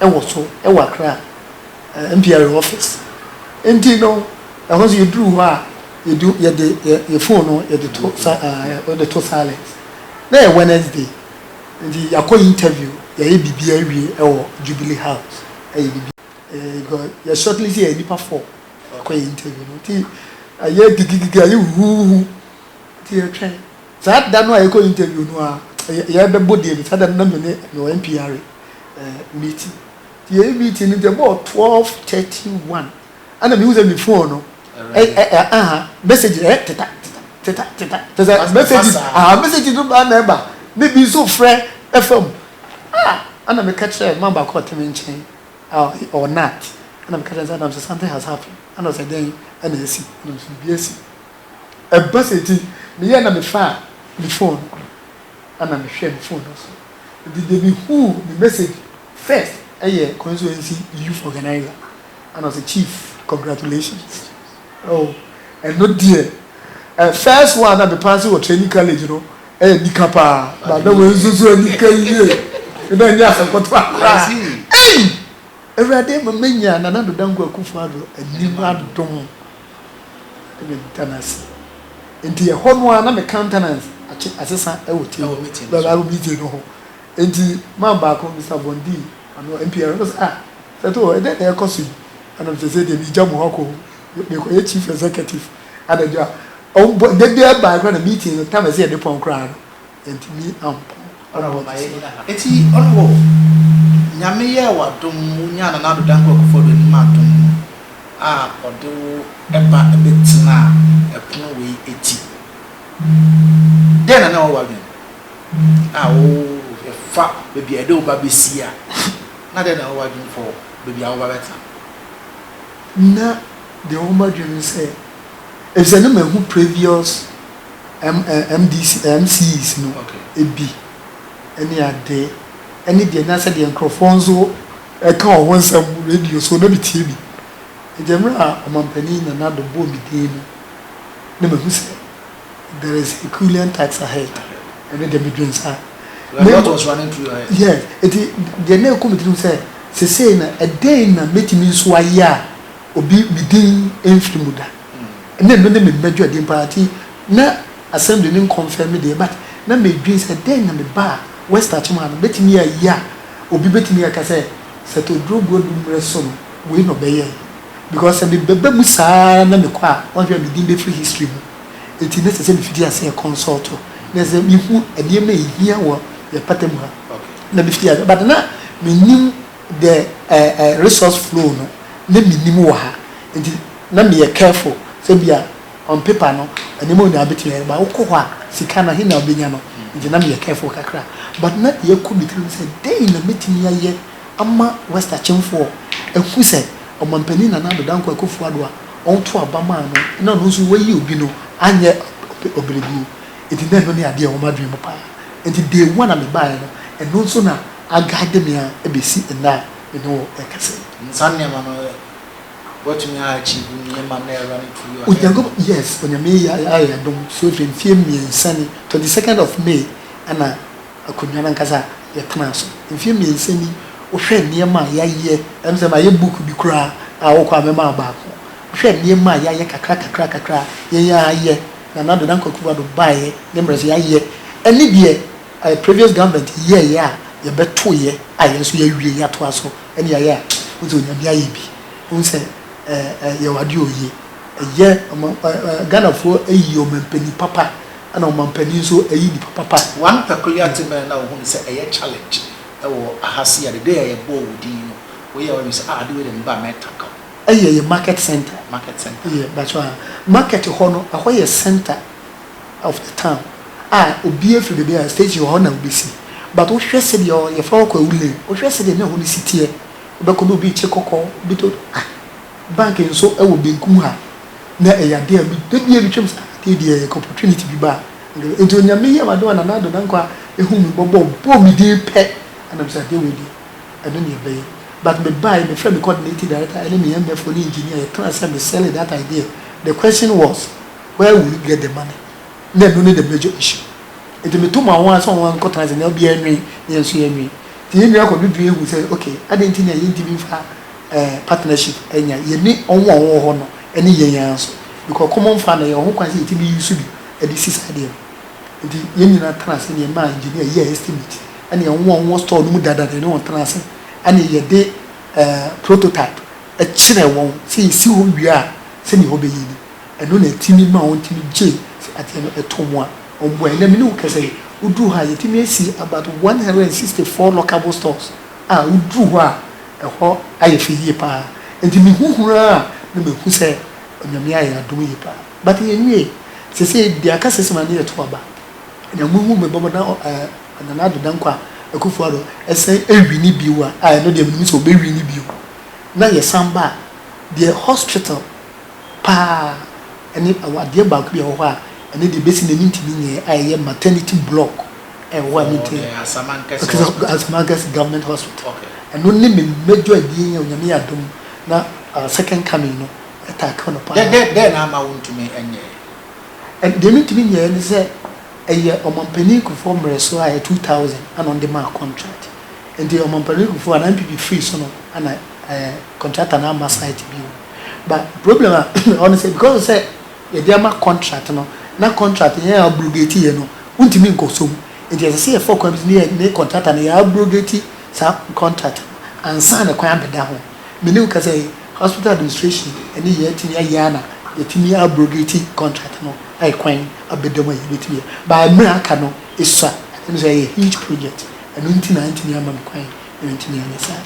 S2: wɔ so wɔ Accra MPRA office. Nti no, ɛhɔ nso yɛduru hɔ a, yɛdu yɛde yɛn phone no yɛde to sa yɛde to silent. Na ɛyɛ Wednesday, nti yɛakɔ interview, yɛayɛ biribi awie wɔ Jubilee House, ayɛ biribi because yɛ shortlist yɛ nnipa four yɛkɔ yɛ interview no nti ayɛ gigigigi ayɛ huhuuhu nti yɛtwɛn. Saa da no a yɛkɔ interview no a yɛbɛbɔ deɛ no saa da no na mene mewɔ NPR meeting nti yɛyɛ meeting no nti ɛbɔɔ twelve thirty one ɛna mehu sɛ me phone no ɛ ɛ ɛ aha message ɛ teta teta teta teta tesa message aha message no baa na ɛba ne bi nso frɛ ɛfa mu ah ɛna meka kyerɛ mmaa baako ɔte me nkyɛn ah ɔnat ɛna meka kyerɛ sɛ ɛna sɛ something has happened ɛna ɔsɛ dɛn ɛna esi ɛna ɔsɛ biribi esi. Ɛba saa nti meyɛɛ na mefaa me phone no ɛna mehwɛɛ me phone no so nti deɛ mehuu ne message first ɛyɛ constituency youth organizer ɛna ɔsɛ chief congratulations oh ɛno deɛ eh, first one na mepaase wɔ training college no ɛyɛ eh, nika paa na na wɔn nso so nika yie ɛna ɛnyɛ asɛkɔtɔ akora ɛyi awurade mama nya nana dodanko akufo ado anim adom ɛna meda no ase nti ɛhɔ no ara na me countenance akye asesa ɛwɔ table ɛwɔ meeting no so meeting no ho nti man baako Mr Bondi ano MPR ɛno sɛ ah sɛto hɔ ɛdɛn na ɛkɔ so yi ɛna mesɛ sɛ deɛ megya mu hɔ kɔ mekɔyɛ chief executive anadwo a ɔmbɔ da biara bae koraa na meeting no tam ɛsɛ yɛde pɔn koraa no Yɛantumi ampɔn ara wɔ
S1: tete no. Enti ɔno o, Nyame yɛɛ wo adom, wo nyaa Nana Addo Dankwa Kufuor Addo anim adom a ɔde wo ba bɛtenaa ɛpono wei ati. Dɛn na na ɛwɔ w'adwene mu a wo yɛfa baabi a yɛde wo ba bɛsi a, na dɛn na ɛwɔ w'adwene for baabi a wo ba bɛtena?
S2: Na deɛ ɛwɔ m'adwene mu ne sɛ, ɛfisɛ na mahu previous MDC, MCs no bi ne ade ne deɛ na sɛdeɛ nkorɔfoɔ nso ɛka wɔn ho nsɛm radio so na metie bi. Ɛgya mmerɛ a Ɔmanpanin Nana Addo bɔɔ me din no na mahu sɛ there is a Kullian task ahead. Ɛno deɛ medwene saa. You are not was running through your head?
S1: Yes. Ɛti
S2: deɛ na ɛkɔ me tirim sɛ sesei na ɛdɛn na mɛtumi nso ayɛ a obi me din mfiri mu da. na ɛno ne me madwuadi mpo ara nti na Assembly no nkɔmfɛm me deɛ but na medwen sɛ dɛn na me ba a West Akyem ha no bɛtumi ayɛ a obi bɛtumi aka sɛ Seth Oduro Guadu mmerɛ so no wei na ɔbɛyɛe because sɛ mebɛba mu saa ara na mekɔ a woahwɛ a me din bɛfiri history mu nti na ɛsɛ sɛ mefiti aseɛ consult na ɛsɛ sɛ mehu nneɛma a ɛhia wɔ yɛn pata mu ha na mefiti aseɛ but na mennim the eh eh resource flow no na menim wɔ ha nti na meyɛ careful sɛ bia on paper no nneɛma nyinaa bɛtumi ayɛ but wokɔ hɔ a sika no he na wobɛnya no nti na meyɛ careful kakra but na deɛ ɛkɔ me tirim sɛ dɛn na mɛtumi ayɛ ama West Akyemfoɔ ahu sɛ Ɔmampanin Nana Addo Dankwa Akuffo Addo a ɔto aba maa no na ɔno nso wayi obi no anyɛ ɔbrɛguo nti na ɛno ne adeɛ a ɛwɔ m'adwene mu paa nti day one a mebaeɛ no ɛno nso na aguide me ara bɛsi ɛnnɛ a me ne wo rekasa yi. And saa nneɛma no
S1: ɛ, woatumi a achieve nneɛma na ɛreba no through your head. Onyankopɔn, yes, Onyame
S2: yi ayɛ yɛn adom, so ɛfiri mfeɛ mmiɛnsa ni, twenty second of May ɛna akonnwa no ankasa yɛtenaa so, mfeɛ mmiɛnsa ni, wohwɛ nneɛma a yɛayɛ, ɛm sɛ mayɛ book bi koraa a wokɔ a mɛma wo baako, wohwɛ nneɛma a yɛayɛ kakra kakra kakra a yɛn ara yɛ, Nana Ado Dankwa Akufo-Addo baeɛ ne mmerɛ so yɛayɛ, ɛne deɛ Ayɛ previous government yɛɛyɛ a yɛbɛtoeɛ a yɛn nso yɛawie yɛatoa so ɛne ayɛ a wode onyame ayɛ bi wohu sɛ yɛwɔ adeɛ ɔyie ɛyɛ Ghanafoɔ ayi ɔmampanin papa ɛna ɔmampanin nso ayi nipa papa. One peculiar thing
S1: bɛn na wohunu sɛ ɛyɛ challenge wɔ aha sei a the day a yɛbɔɔ wo din no woyɛɛ w'adwene sɛ ah ade wei deɛ me ba mɛ tackle. Ɛyɛ yɛ market centre. Market centre. Yɛ mpakyɛw ah market hɔ no ɛhɔ yɛ centre. of
S2: the town a obiara firi baabi a station wɔ hɔ na wobɛsi but wohwɛ sɛdeɛ ɔ yɛfrɛ hɔ Kwawu lane wohwɛ sɛdeɛ na ɛhɔ no si teɛ wobɛkɔ bɛ obi rekye kɔkɔɔ obi to ah bank nso ɛwɔ benkum ha na ɛyɛ adeɛ a me da biara metwam sɛ ah adeɛ deɛ yɛka opportunity bi ba a nka nti Onyame yɛ m'adom a Nana Addo Dankwa ɛhu me mmɔbɔ ɔbɔɔ me din pɛ ɛna mesɛ adeɛ wei deɛ ɛno na yɛbɛyɛ but mebaeɛ mefrɛ me coordinating director ɛne me MFO ne engineer yɛtena ase a me sell that idea the question was Woewu yɛ dɛn ma me? Nna eno nye dɛm n'egya ehyir. Ntsi meto ma hɔn a sɛ hɔn ara nkɔtsena ase na obiara nwin na hɛn so yɛnwin. Ntsi hɛn nyina kɔ do dwen hu sɛ ok, adɛn ntsi na yenntum mmfa partnership nnyɛ yɛne hɔn a wɔwɔ hɔ no ne hɛn ara so because common fund no yɛwɔ ho kwan sɛ yɛtumi use bi de si saa adeɛ no. Ntsi hɛn nyina tena ase na yɛmaa engineer yɛɛ estimate na hɔn a wɔwɔ store no mu dada no yɛne hɔn tenaa ase na yɛde prototype kyerɛɛ hɔn sɛ yesi hɔ wie a sɛdeɛ hɔ bɛyɛ ni. Ɛno na ɛtumi ma wɔn tumi gye sɛ adeɛ no ɛtɔ mu a wɔn bua. Ɛnɛ me ne wo kasa yi, wo duru ha a yɛtumi asi about one hundred and sixty four lockable stores a wo duru hɔ a ɛhɔ ayɛ fɛ yie paa. Nti me hu hunu ara a na me hu sɛ Onyame ayɛ adom yie paa. But yɛ nwie. Sesei deɛ aka sɛ sima no yɛ to aba. Ɛnɛ mo hu me bɔbɔ na ɔɔ Nana Addo Dankwah Akuffo Addo ɛsan ɛwini bio a a ɛno deɛ me nim sɛ ɔbɛ wini bio. Na yɛ san ba a deɛ hospital. paa ne ɛwɔ adeɛ baako bi a ɛwɔ hɔ a ɛno deɛ bɛsi nnɛ mentumi nyɛɛ a ɛyɛ maternity block a ɛwɔ hɔ a mentumi nyɛɛ Asamankɛse government hospital ɛno ne me major abien a Onyame yɛ adom na second coming no ɛtaa ka no paa. Dɛn na ama wontumi
S1: nyɛɛ? Deɛ
S2: mentumi nyɛɛ ne sɛ ɛyɛ Ɔmanpanin Kufuor mmerɛ so a ɛyɛ 2000 ɛna ɔde maa contract nti Ɔmanpanin Kufuor anaa NPP firii so no ɛna contractor no amma site bio. but problem a ɛhɔ ne sɛ because sɛ yɛde ama contract no na contract yɛn abrogate yɛ no wontumi nkɔ so mu nti ɛsɛ sɛ yɛfa kwan bi so ne yɛ ne contractor no yɛ abrogate saa contract no ansa na kwan abɛda ho me ne wo kasa yi hospital administration ɛne yɛn atumi ayɛ a na yɛatumi abrogate contract no ayɛ kwan abɛda mu a yɛbɛtumi yɛ but mmerɛ aka no esua ɛno nso ɛyɛ huge project ɛno nti na antumi ama me kwan na mantumi anyɛ saa.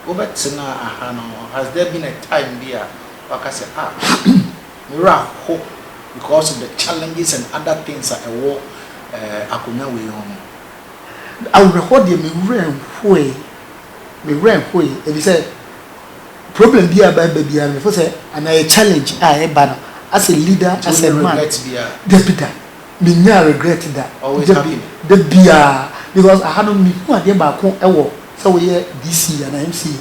S1: Wobɛtena ha no has there been a time bi a waka sɛ ah me werɛ aho because of the challenges and other things a ɛwɔ akonnwa wei ho no?
S2: Awerɛhoɔ deɛ me werɛ nhoe, me werɛ nhoe efisɛ problem bi a ɛba biara no me fo sɛ anaa challenge a ɛba no as a leader as a man dabi da. Me nyaa regret da dabi da
S1: biaa
S2: because aha no me hu adeɛ baako wɔ sɛ wo yɛ DC anaa MCA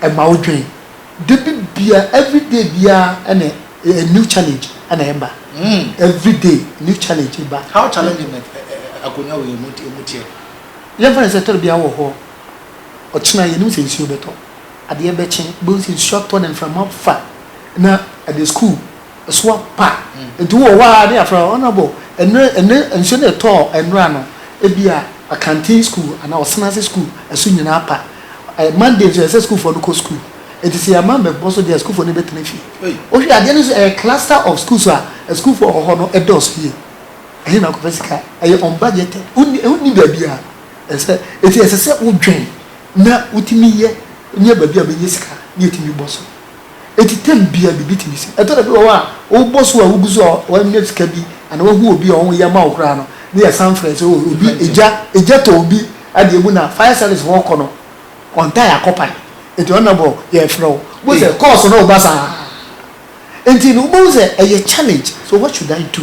S2: ɛma wo dwen dabi bia every day biaa ɛna a new challenge ɛna ɛba every day new challenge ɛba. How
S1: challenging na akonwa wei mu teɛ. Yɛn fa no
S2: sɛ ɛtɔda biaa wɔ hɔ ɔkyena yɛnim sɛ nsuo bɛtɔ adeɛ bɛkye wobɛhu sɛ nsuo atɔ na mframa fa na ɛde school soa pa. Nti wowɔ hɔ ara ne yɛafrɛ wo, Honourable, ɛnɛ, ɛnɛ nsuo no a ɛtɔɔ nnora no, ebia Akanten sukuu anaa Ɔsena ase sukuu ɛso nyina apa. Ɛɛ, Monday nso ɛsɛ sɛ sukuufoɔ no kɔ sukuu. Nti sɛ yɛamma ammɛbɔ so deɛ a, sukuufoɔ no bɛtena fie. Wohwɛ adeɛ no nso, ɛyɛ cluster of schools a asukuufoɔ a wɔwɔ hɔ no dɔɔso yie. Ɛhe na wokɔfa sika? Ɛyɛ unbudgeted. Wonni, ɛho nni baabi a ɛsɛ. Nti ɛsɛ sɛ wodwen na wotumi yɛ, nya baabi a wobɛnya sika na yɛatumi bɔ so. Enti term biara bi betumi si. Ɛtɔ da bi wɔ hɔ a, wobɔ so a wugu so a woanya sika bi anaa woahu obi a ɔyɛ ma wo koraa no, na yɛsan frɛ sɛ oh, obi egya egya tɔ obi adeɛ mu na fire service hɔ kɔ no, ɔntaa akɔpae. Enti honourable yɛrefrɛ wo. Wohu sɛ calls no reba saa nti no wobɛhu sɛ ɛyɛ challenge. So what should I do?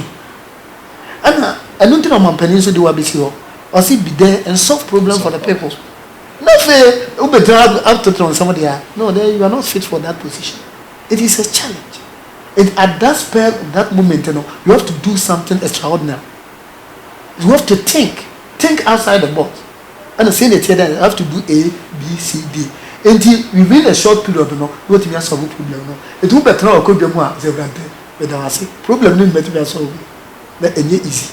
S2: Ɛna ɛno nti na ɔmampanin nso de wo abɛsi hɔ. Ɔse be there and solve problem for the people. Na afei wobɛgyina hɔ atoto nsɛm deɛ a, no, then you are not fit for that position. It is a challenge. It, at that spur of that moment no, you have to do something extraordinary. You have to think, think outside the box. Ɛna sɛ ɛna ɛteɛ dɛ, you have to do A, B, C, D. Enti within a short period no, na watumi asɔlve problem no. Enti wobɛtena w'akonnwa mu a, sɛ Awurade, meda wo ase, problem no mɛtumi asɔlve. Na ɛnyɛ easy.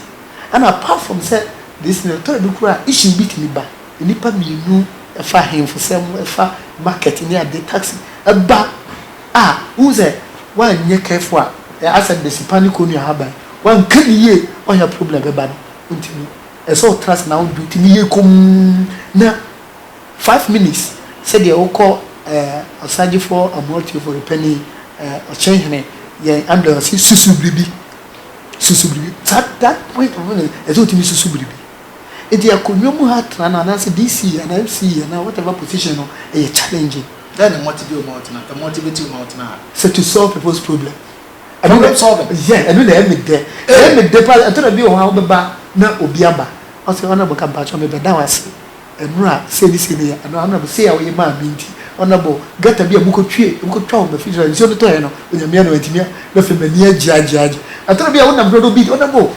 S2: Ɛna apart from sɛ this thing, ɛtɔ da bi koraa a, issue bi tumi ba. Nnipa mmienu fa ahemfosɛm, fa market ne ade, taxi ba a, wohu sɛ woanyɛ careful a, asɛ bese pa ne kɔnnua haban, woanka no yie a, ɔyɛ a problem bɛba no. Nti no, ɛsɛ sɛ wotena ase na wode wo tumi yɛ komm na five minutes sɛdeɛ wokɔ eh, Ɔsagyefoɔ Amoah Tuefo Repanin eh, Ɔkyehene, yɛn Andrew ɔse susu biribi, susu biribi. Saa that point of view no, ɛsɛ sɛ wotumi susu biribi. Enti akonnwa mu ha tena no anaasɛ DC anaa MC anaa whatever position no ɛyɛ challenging. Dɛn na multi bill
S1: ma ɔtena? A multi bill ma ɔtena a. Sɛ to solve people's
S2: problem. Problem
S1: solving. Yeah, ɛno na ɛyɛ me dɛ.
S2: Ɛyɛ me dɛ paa. Ɛtɔ da bi wɔ hɔ a wobɛba na obi aba. Ɔse honourable ka mpakyɛw me bɛda wo ase. Ɛno a sei ne sei no yɛ anaa honourable sei a woyɛ maa me nti honourable gutter bi a mokɔ twie mokɔ twa wɔ m'afie so a nsuo no tɔɛ no onyame adom antumi a na afei m'ani agye agye agye. Ɛtɔ da bi a wonam hɔ na obi honourable.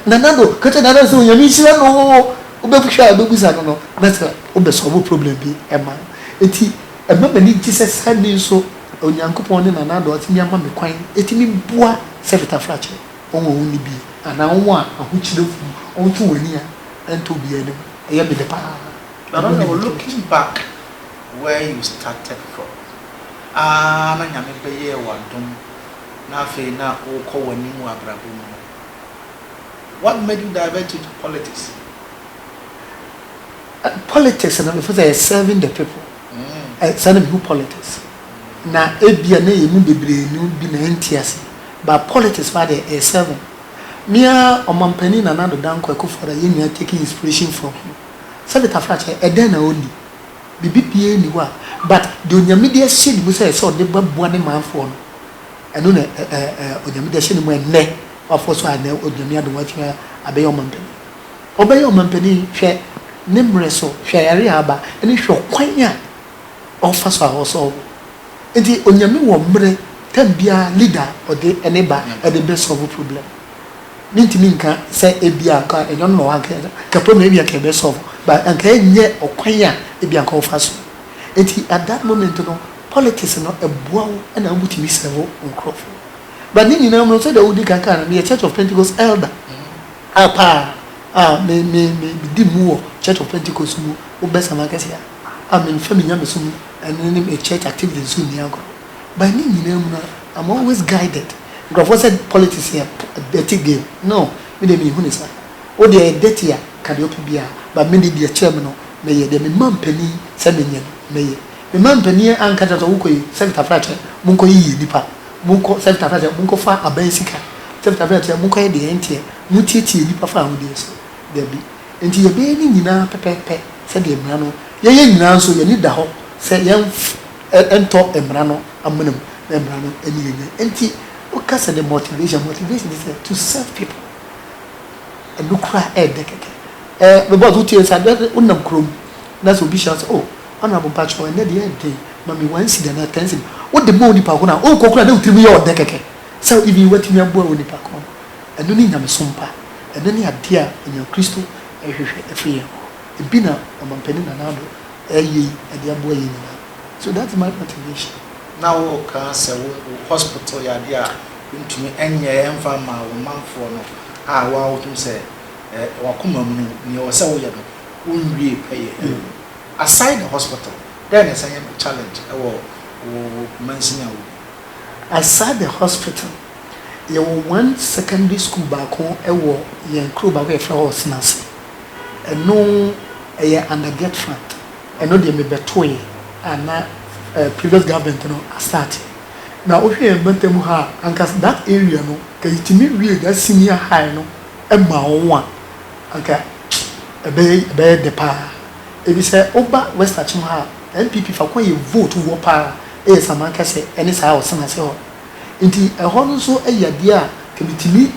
S2: Nana do ka kyerɛ Nana sɛ Onyame nhyira no oo, wobɛhwɛ a wobɛbusa no no na sɛ wobɛ solve problem bi ma no. Nti ɛma m'ani gye sɛ saa nni nso Onyankopɔn ne Nana do atumi ama me kwan atumi boa Sɛfit Afrakye wɔn a wɔnni bi anaa wɔn a ahokyerɛ wɔ mu, wɔnto wɔn ani a ɛntɔ obiara anim. Ɛyɛ me dɛ pa ara. Nana do looking
S1: back where you started from aa na Nyame bɛyɛɛ wo adom na afei na wokɔ w'anim wɔ abrabɔ mu no, What made you divert it
S2: to politics? Politics no mefo sɛ yɛ serving the people ɛsɛ na mehu politics na ebia na yɛn mu bebree no bi na ɛnte ase but politics paa deɛ ɛyɛ serving mea ɔmampanin Nana Addo Dankwa Akufo Addo a yɛn nyinaa taking inspiration from him sɛ Beta Frakyɛ ɛdɛn na ɔnni biribi biara nni hɔ a but deɛ Onyame de ahyɛ ne mu sɛ ɛsɛ ɔde bɛboa ne manfoɔ no Ɛno na Onyame de ahyɛ ne mu ɛnnɛ. W'afoɔ so a ɛnnɛ ɔde Nyame adom watumi abɛyɛ ɔmanpanin. Ɔbɛyɛ ɔmanpanin hwɛ ne mmerɛ so, hwɛ ayare a aba, ɛne hwɛ ɔkwan a ɔfa so a ɔsɔɔvo. Nti Onyame wɔ mmerɛ tam biara leader a ɔde ɛne ba ɛde bɛ sɔɔvo problem. Me ntumi nka sɛ ebia anka ɛnyɛ ɔno na ɔwɔ anka ɛnyɛ, anka problem no ebia anka ɛbɛ sɔɔvo but anka ɛnyɛ ɔkwan a ebia anka ɔfa so. Enti at that moment no politics no ɛboa wo na wobɛtumi serve nkurɔfo. But ne nyinaa mu no sɛdeɛ wodi kan kaa no, meyɛ Church of Pentecost elder a paa a me me me medi mu wɔ Church of Pentecost mu wo bɛsam akɛseɛ a a memfa me nyamesom ɛne ne me church activity nso nni agorɔ. But ne nyinaa mu no I'm always guided. Nkurɔfoɔ sɛ politics yɛ dirty game no me deɛ menhu no saa. Wo deɛ ɛyɛ dirty a, ka deɛ wopɛ biara, but me de deɛ ɛkyɛn me no, mɛyɛ. Deɛ mema mpanin sɛ menyɛ no, mɛyɛ. Mema mpanin anka kyerɛ me sɛ, Wokɔ yi, Sefita frɛ akyɛ, monkɔyiyi nnipa. Monkɔ, Sefita frɛ akyɛ, monkɔfa aban sika. Sefita frɛ akyɛ, monkɔyɛ deɛ ɛnteɛ. Motiatia nnipa fa ahodeɛ so. Dabi. Enti yɛbɛyɛ ne nyinaa pɛpɛɛpɛ sɛdeɛ mmara no, yɛyɛ nyinaa nso, yɛn ani da hɔ sɛ yɛrentɔ mmara no amena mu, na mmara no ani yɛn. Enti woka sɛ the motivation, motivation ne sɛ to serve people. Ɛno kura a ɛyɛ dɛ kɛkɛ. Eh me boss wotie nsa dɛ wo nam kurom na sɛ obi hyia wo sɛ oh honourable mpakyɛw ɛnɛ deɛ ɛyɛ den ma me one cedi anaa ten cedi wo de ma onipa ko no a wokɔ kura na wo tirim yɛ ɔdɛ kɛkɛ sɛ even watumi aboa onipa ko no ɛno ne nyamesom pa ɛno ne adeɛ a onua kristo ɛhwehwɛ ɛfiri yɛn hɔ ebi na ɔmampanin Nana Addo ɛyɛ yi ɛde aboa yɛn nyinaa so that is my motivation. Na wo kaa
S1: sɛ wo hospital yɛ adeɛ a Wontumi nyɛ mfa mmaa wɔn manfoɔ no a wɔn a wohu sɛ w'akoma mu no nea ɛwɔ sɛ woyɛ no wonwie pɛyɛ wɔ mu. Aside the hospital, dɛn na ɛsan yɛ challenge wɔ wo mansini a wogu mu?
S2: Aside the hospital, yɛwɔ one secondary school baako wɔ yɛn kuro baako a yɛfrɛ hɔ Ɔsenase. Ɛno ɛyɛ under get fund. Ɛno deɛ mebɛtoeɛ a na previous government no astarteɛ. na wohwɛ yɛn mpɛtam ha a anka that area no nka yetumi wiee that senior high no ma wɔn a anka ɛbɛyɛ ɛbɛyɛ dɛ paa. Ebi sɛ woba west akyem ha a NPP fako a yɛ vote wɔ paa yɛ Samankɛse ɛne saa Ɔsenase hɔ nti ɛhɔ no nso yɛ adeɛ a nka metumi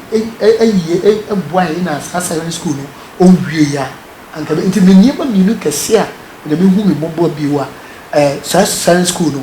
S2: ayie boaeɛ na saa secondary school no ɔnwieeɛ a anka ɛbɛ nti me nneɛma mmienu kɛse a Onyame hu me mmɔbɔ bio a ɛɛ saa secondary school no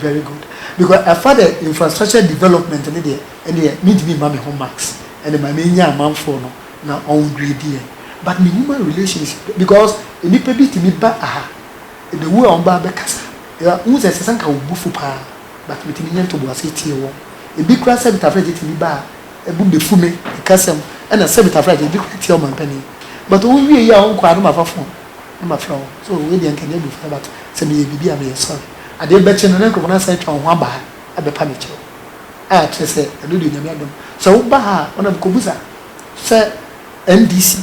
S2: Very good because ɛfa dɛ infrastructure development no deɛ ɛndeɛ mentumi mma me ho marks ɛne ma menya amanfoɔ no na wɔn grade yɛn but ne human relations because nnipa bi tumi ba aha ɛbɛwu a wɔn ba abɛkasa yɛ wohu sɛ ɛsɛ sɛ nka wo bufu paa but metumi nyɛ ntoboase tie wɔn ebi kura sɛ bitafragye tumi ba a ɛbu bɛfu me ɛkasɛm ɛna sɛ bitafragye ebi kura tie ɔmampanin but wɔn wie yi a wɔn kɔ a na ma fa phone na ma frɛ wɔn so wei deɛ nka nyɛ abufra but sɛ meyɛ biribi a meyɛ sorry. Adeɛ bɛkye no na nkorɔfoɔ no asan atwa wo ho aba ha abɛpa me kyɛw a, kyerɛ sɛ ɛno deɛ Nyame adom. Sɛ woba ha a, ɔnam kɔbusa sɛ NDC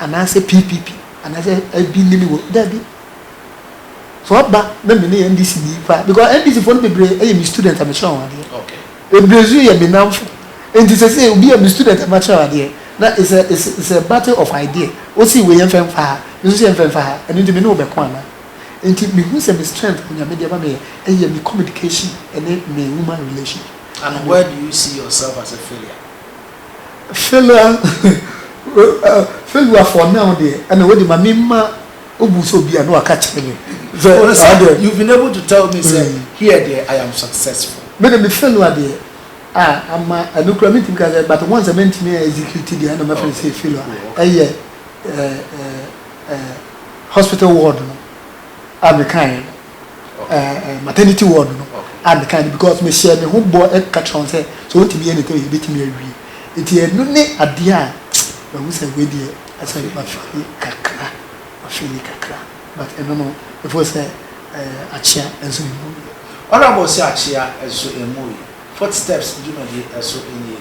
S2: anaasɛ PPP anaasɛ ɛbi ne me wɔ, daabi. Sɛ woaba na me ne NDC ni koraa, because NDC foɔ no bebree yɛ me student a mekyerɛ wɔn adeɛ. Bebree nso
S1: yɛ me
S2: namfo. Nti sɛsei obi yɛ me student a makyerɛ no adeɛ na it's a, it's a battle of idea. Wose wei yɛmfa mfa ha, me nso se yɛmfa mfa ha, ɛno nti me ne wo bɛko anaa? Nti me hu sɛ me strength onyame de ama me yɛ ɛyɛ me communication ɛne me woman relation. And where do you
S1: see yourself as a failure?
S2: Failure failure for now deɛ ɛna wei de ma me ma wo bu sɛ obi a na waka kyerɛ me sɛ.
S1: You've been able to tell me sɛ here deɛ I am successful. Me de me failure deɛ
S2: ah ama ɛno kura me ntumi ka sɛ but once a me ntumi a execute deɛ ɛna mɛfrɛ no sɛ failure ɛyɛ hospital ward no a mekaeɛ no maternity ward no a mekaeɛ no because mehyɛɛ me ho bɔ ɛka kyerɛ wɔn sɛ sɛ wɔntumi yɛ ne tɛm yɛbɛtumi awie nti ɛno ne adeɛ a mahu sɛ wei deɛ ɛsɛ mafili kakra mafili kakra but ɛno no ɛfo sɛ akyea nso ne mu Honorable sɛ akyea nso ɛmu yi
S1: footsteps dwumadie nso nie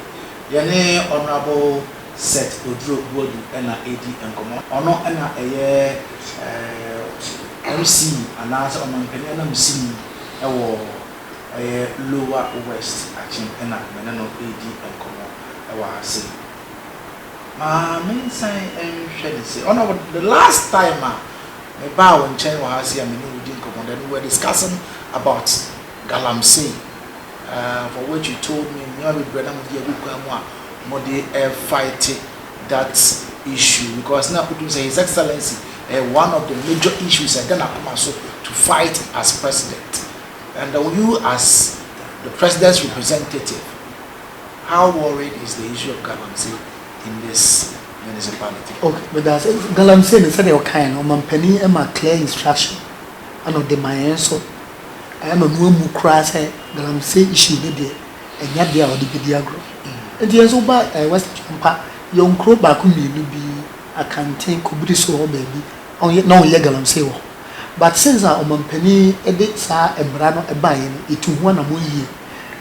S1: yɛne Honorable Seth Oduro Buadu na redi nkɔmmɔ. Ɔno na ɛyɛ eh, MC anaa sɛ ɔmanpanin ananmusini wɔ ɛyɛ Lower West Akyem na me ne no redi nkɔmmɔ wɔ ha sei. Ma me nsan nhwɛ ne sei. Ɔno na the last time a me baa wo nkyɛn wɔ ha sei a me ne wo di nkɔmmɔ then we were discussing about Galamsey. um for what you told me nneɛma bebree na mo de agu kwan mu a mo de fight that issue because na wotum sɛ his excellency ɛyɛ eh, one of the major issues ɛda n'akoma so to fight as president and uh, you as the president's representative how worried is the issue of galamsey in this municipality. okay but that's
S2: galamsey ne sɛdeɛ ɔkae no ɔmampanin ma clear instruction ɛna ɔde ma yɛn nso. ayɛ no no amu koraa sɛ galamsey issue no deɛ ɛnyɛ adeɛ a wɔde bɛdi agorɔ. Nti yɛn nso woba ɛɛ West Akyempa, yɛwɔ nkuro baako mmienu bi, Akanten, Kobiriso hɔ baabi, wɔn na wɔyɛ galamsey wɔ hɔ. But since a ɔmanpanin de saa mmara no baeɛ no, yɛtuu ho anammɔn yie.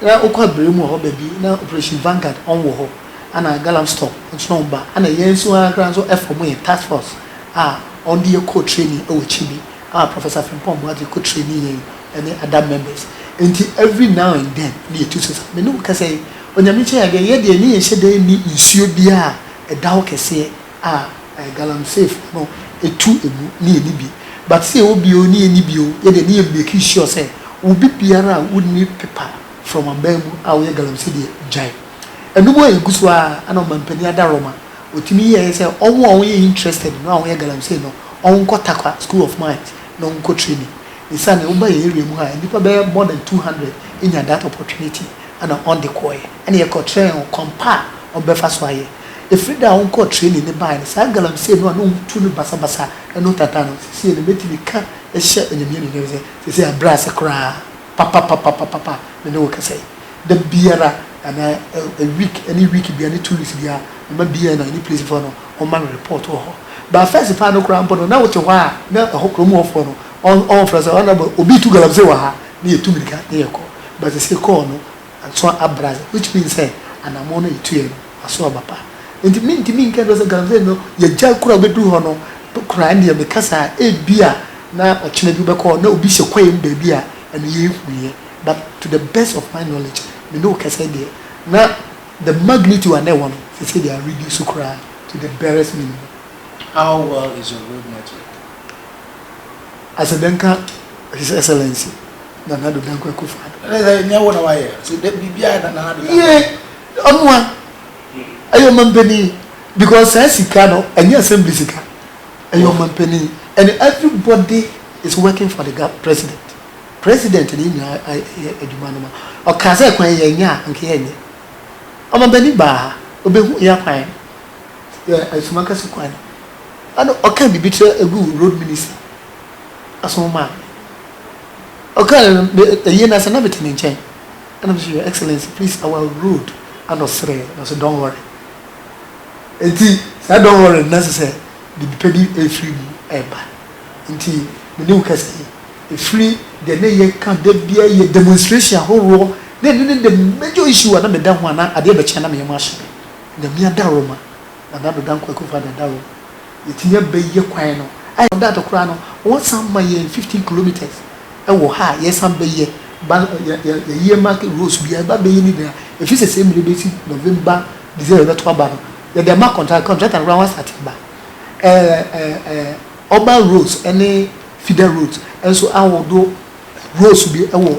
S2: Na wokɔ Abirem wɔ hɔ baabi, na Operation Vanguard wɔn wɔ hɔ, ɛna Galamstop nso na wɔn ba, ɛna yɛn nso ara koraa nso ɛfɔɔmo yɛn task force a wɔn de yɛ kɔɔ training wɔ akyi bi. Ah Professor Frimpong Boakye ko traini yɛn ɛne Adam members nti every now and then na yɛtu so saa. Me ne wo kasa yi Onyame kyɛ yɛ adeɛ yɛ deɛ ne yɛnhyɛ da nni nsuo biara a ɛda hɔ kɛseɛ a ɛɛ Galamsey foɔ no tu ɛmu ne yɛnni bi but sɛ yɛwɔ bi oo ne yɛnni bi oo yɛ deɛ ne yɛ make sure sɛ wo bi biara a wo nni pepa from aban mu a wo yɛ Galamsey deɛ gyae ɛno mu a yɛgu so ara na ɔmampanin Ada Roma Otumi yɛɛ ne sɛ wɔn a wɔyɛ interested no a wɔyɛ galamsey no wɔn nkɔ Tarkwa school of mines na wɔn nkɔ training. Ne saa na woba yɛn area mu ha nnipa bɛyɛ more than two hundred nya that opportunity ɛna wɔn de kɔɔɛ ɛna yɛ kɔ kyerɛɛ wɔn kwan pa a wɔn bɛfa so ayɛ. Efiri da a wɔn kɔɔ training no baeɛ no saa galamsey no a na wɔn tu no basabasa ɛno tata no sesie no mɛtumi ka ɛhyɛ Onyame anuonyam sɛ sesie abrɛ ase koraa. papapapapapa me ne wo kasa yi da biara anaa week ɛne week biara ne two weeks biara me ma BN a ɛne police foɔ no wɔn ma me report wɔ hɔ but first paa no koraa mpo no na wo te hɔ a na ɛhɔ kurom hɔ foɔ no wɔn wɔn frɛ sɛ honourable obi tu galamsey wɔ ha na yɛ tu mirika na yɛ kɔ but sɛ call no Ansoa abra yɛ which means sɛ anamɔn no a yɛtu yɛ no aso aba pa nti mentumi nka nkyerɛ wo sɛ Galamsey no yɛagya kura a wobɛduru hɔ no koraa ndeɛ meka saa ebia na ɔkyena bi wobɛkɔ hɔ na obi hyɛ kwaeɛ mu baabi a ɛno yɛnhuiɛ but to the best of my knowledge me ne wo kɛsɛ deɛ na the magnitude a na ɛwɔ no seesei deɛ a reduce koraa to the barest minimum. How well
S1: is your road network?
S2: Asɛ dɛn ka His Excellency Nana Addo Dankwa Akufo-Addo? Ɛne sɛ nyɛ wo na wayɛ,
S1: so dɛ biribiara na Nana Addo
S2: Dankwa. Yee, ɔno a ɛyɛ ɔmampanin because saa sika no ɛnyɛ assembly sika, ɛyɛ ɔmampanin and everybody is working for the gov, president, president na yɛn nyinaa yɛ adwuma no ma. Ɔkaa sɛ kwan yɛ nyɛ a, anka yɛnyɛ. Ɔmampanin baa ha, ɔbɛhu yɛ kwan no, yɛ Asumakase kwan no. Ana ɔkã biribi kyerɛ egu road minister aso ma a ɔkã no me eyi na sɛ na metse ne nkyɛn na mese your excellency please our road ana ɔserɛ na ɔse don't worry ntsi saa don't worry no na ɔsɛ sɛ biribi pa bi efri mu reba ntsi me ne wo kasa yi efri deɛ ne yɛkã dabia yɛ demonstration ahoroɔ na ɛno ne the major issue a na meda ho a na adeɛ bɛkye a na meyɛ mu ahyɛ me Nyame adawroma. Nana Bodan Kwaku fa dada o, yɛtumi abɛyɛ kwan no ayɛ no dada koraa no, wɔsan ma yɛn fifteen kilometres wɔ ha a yɛsan bɛyɛ, ba yɛ yɛ yɛ earmark roads biara yɛba abɛyɛ ne nyinaa, ɛfiri sɛ sɛ mmerɛ bɛsi November, December bɛto aba no, yɛde ama contractor, contractor no koraa wasate aba, ɛɛ ɛɛ ɛɛ urban roads ne feeder roads nso ahodoɔ roads bi wɔ.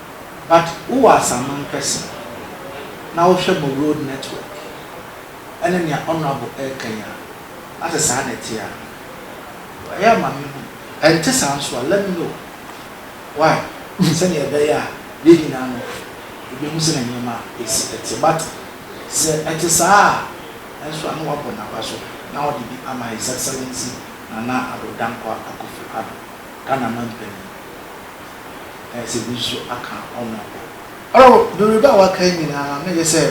S1: But wo wɔ asaman kɛse na wo hwɛ mo road network ɛne nea honourable ɛɛka yi a, na sɛ saa na ɛte a, ɛyɛ a ma me hu. Ɛnte saa nso a, let me know why sɛnea ɛbɛyɛ a yɛn nyinaa no yɛbɛhu sɛnea nneɛma a ɛsi ɛte. But sɛ ɛte saa a nso a, na wabɔ n'aba so na ɔde bi ama His Excellency Nana Addo Dankwa Akufo-Addo, Ghana Manpanin. ayɛ sɛ ebi nso aka wɔn abom. Wɔ Yoruba a wɔaka yi nyinaa no, na ɛyɛ sɛ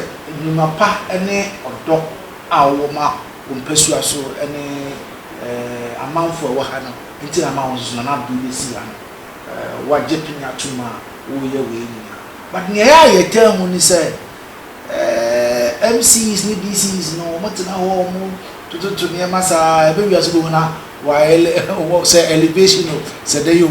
S1: nnwuma pa ne ɔdɔ a wɔwɔ ma wɔn mpasua so ne amanfoɔ a ɛwɔ ha no nti na ama wɔn nso so Nana Addo yi asi ha no. Wɔagye pene atom a wɔreyɛ wei nyinaa. But nea ɛyɛ a yɛtaa hu ne sɛ MCs ne DCs no, wɔtena hɔ a wɔtototo nneɛma saa a, ɛbɛwie a nso wobɛhu na wɔayɛ sɛ elevation o, sɛ dɛn o.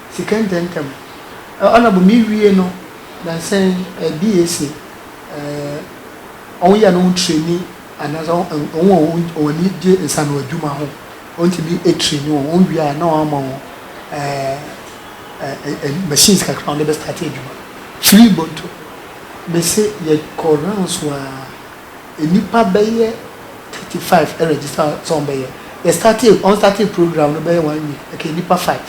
S2: Sika ntɛmntɛm. Honourable me wie no nansa yi BAC wɔn yɛ no ho training anaasɛ wɔn wɔn ani gye nsano adwuma ho wɔn tumi train wɔn wɔn wie a na wɔn ama wɔn ɛɛ machines kakra wɔn de bɛ start adwuma. Twi bonto me se yɛ kɔ rounds waa Nnipa bɛyɛ thirty five ɛrɛgyista sɛ wɔn bɛyɛ. Yɛ startee wɔn startee program no bɛyɛ one week ɛkɛyɛ nnipa five.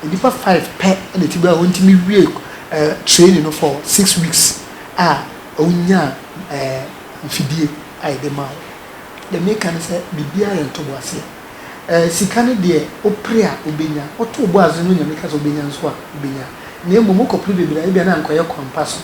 S2: Nnipa five pɛ ɛna ɛti bɛyɛ wɔn ntumi wie ɛɛ training no for six weeks a wɔn nya ɛɛ mfidie a yɛde ma wɔn. Deɛ meka ne sɛ biribiara yɛ ntoboaseɛ. Ɛɛ sika no deɛ wopere a wobɛnya. Woto wo bo ase na Onyame ka sɛ wobɛnya nso a wobɛnya. Na mmom wokɔ pere bebree a ebia na anka ɔyɛ kwan pa so.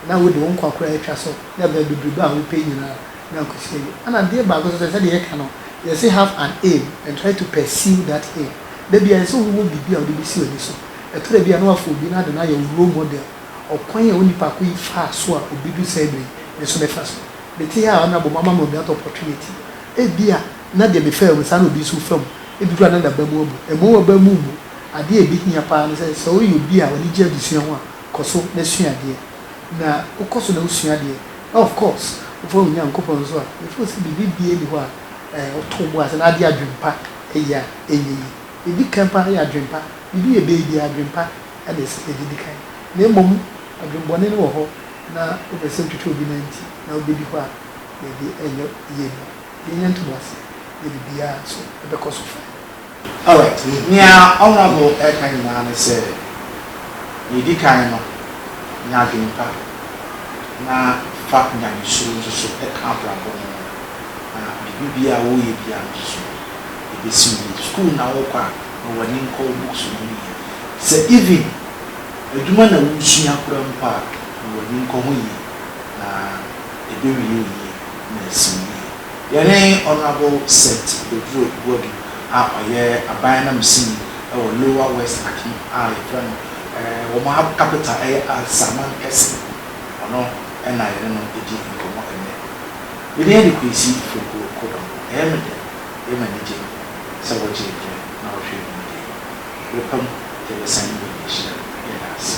S2: na wode wo nkwa koraa atwa so na ɛbɛn bebrebe a wopɛ nyinaa na akosi awie. Ɛna adeɛ baako nso sɛ, sɛdeɛ yɛka no, yɛse have an aim and try to pursue that aim. Da biara ɛsɛ sɛ wowɔ biribi a wode bɛsi w'ani so. Ɛtɔ da bi a na woafa obi no ade no ayɛ wo role model. Ɔkwan a onipa ko yi faa so a ɔbɛdu saa berɛ yi, me nso mɛfa so. Mete ha a, Honourable moama me that opportunity. Ebia na deɛ mefaa mu saa na obi nso refa mu. Ebi koraa na n'aba mu abu. Ɛmmɔ w'aba mu mmu. Adeɛ a ɛbɛhia paa ne sɛ, sɛ woyɛ obi a w'ani gye adesua ho a, Kɔ so na sua adeɛ. Na wokɔ so na wosua adeɛ na of course wofa wo Nyankopɔn nso a, before sɛ biribi biaa nni hɔ a ɛɛ woto wo bo ase na ade adwen pa ɛyɛ a ɛnyɛ yie. Ɛdi kan paa yɛ adwen pa. Biribi yɛ bɛyɛ biaa adwen pa ɛna ɛsɛ yɛde di kan. Na mmom adwen bɔne no wɔ hɔ na wopɛ sɛ wotwitwa obi nan ti na wobɛdi hɔ a baabi ɛnyɛ yie no. Yɛnya ntoboaseɛ na biribiaa nso ɛbɛkɔ so fine. Alright,
S1: nea ɔnwrafo reka nyinaa ne sɛ, nea edi kan no, nya adwene pa na fa nyamesuro nso so ka abrabɔ no ho, na biribi biara a woreyɛ biara no nso so ebesi wo yie. Sukuu na worekɔ a, ma w'ani nkɔ wo books no ho yie. Sɛ even adwuma na woresua koraa mpo a, ma w'ani nkɔ ho yie, na ebewie wo yie na asi wo yie. Yɛne Honourable Seth Beburo Boadu a ɔyɛ aban anam sini wɔ Lower West Akim a yɛfrɛ no wɔn capital yɛ Alsaman Kese, ɔno na yɛne no di nkɔmmɔ ɛnnɛ. Me din de Kwesi Fireguo Kodong. Ɛyɛ me dɛ, ɛyɛ me anigye sɛ wogyee berɛ na wohwɛɛ dwumadie yi. Berɛ pa mu yɛbɛsan ne baabi ahyia. Yɛda ase.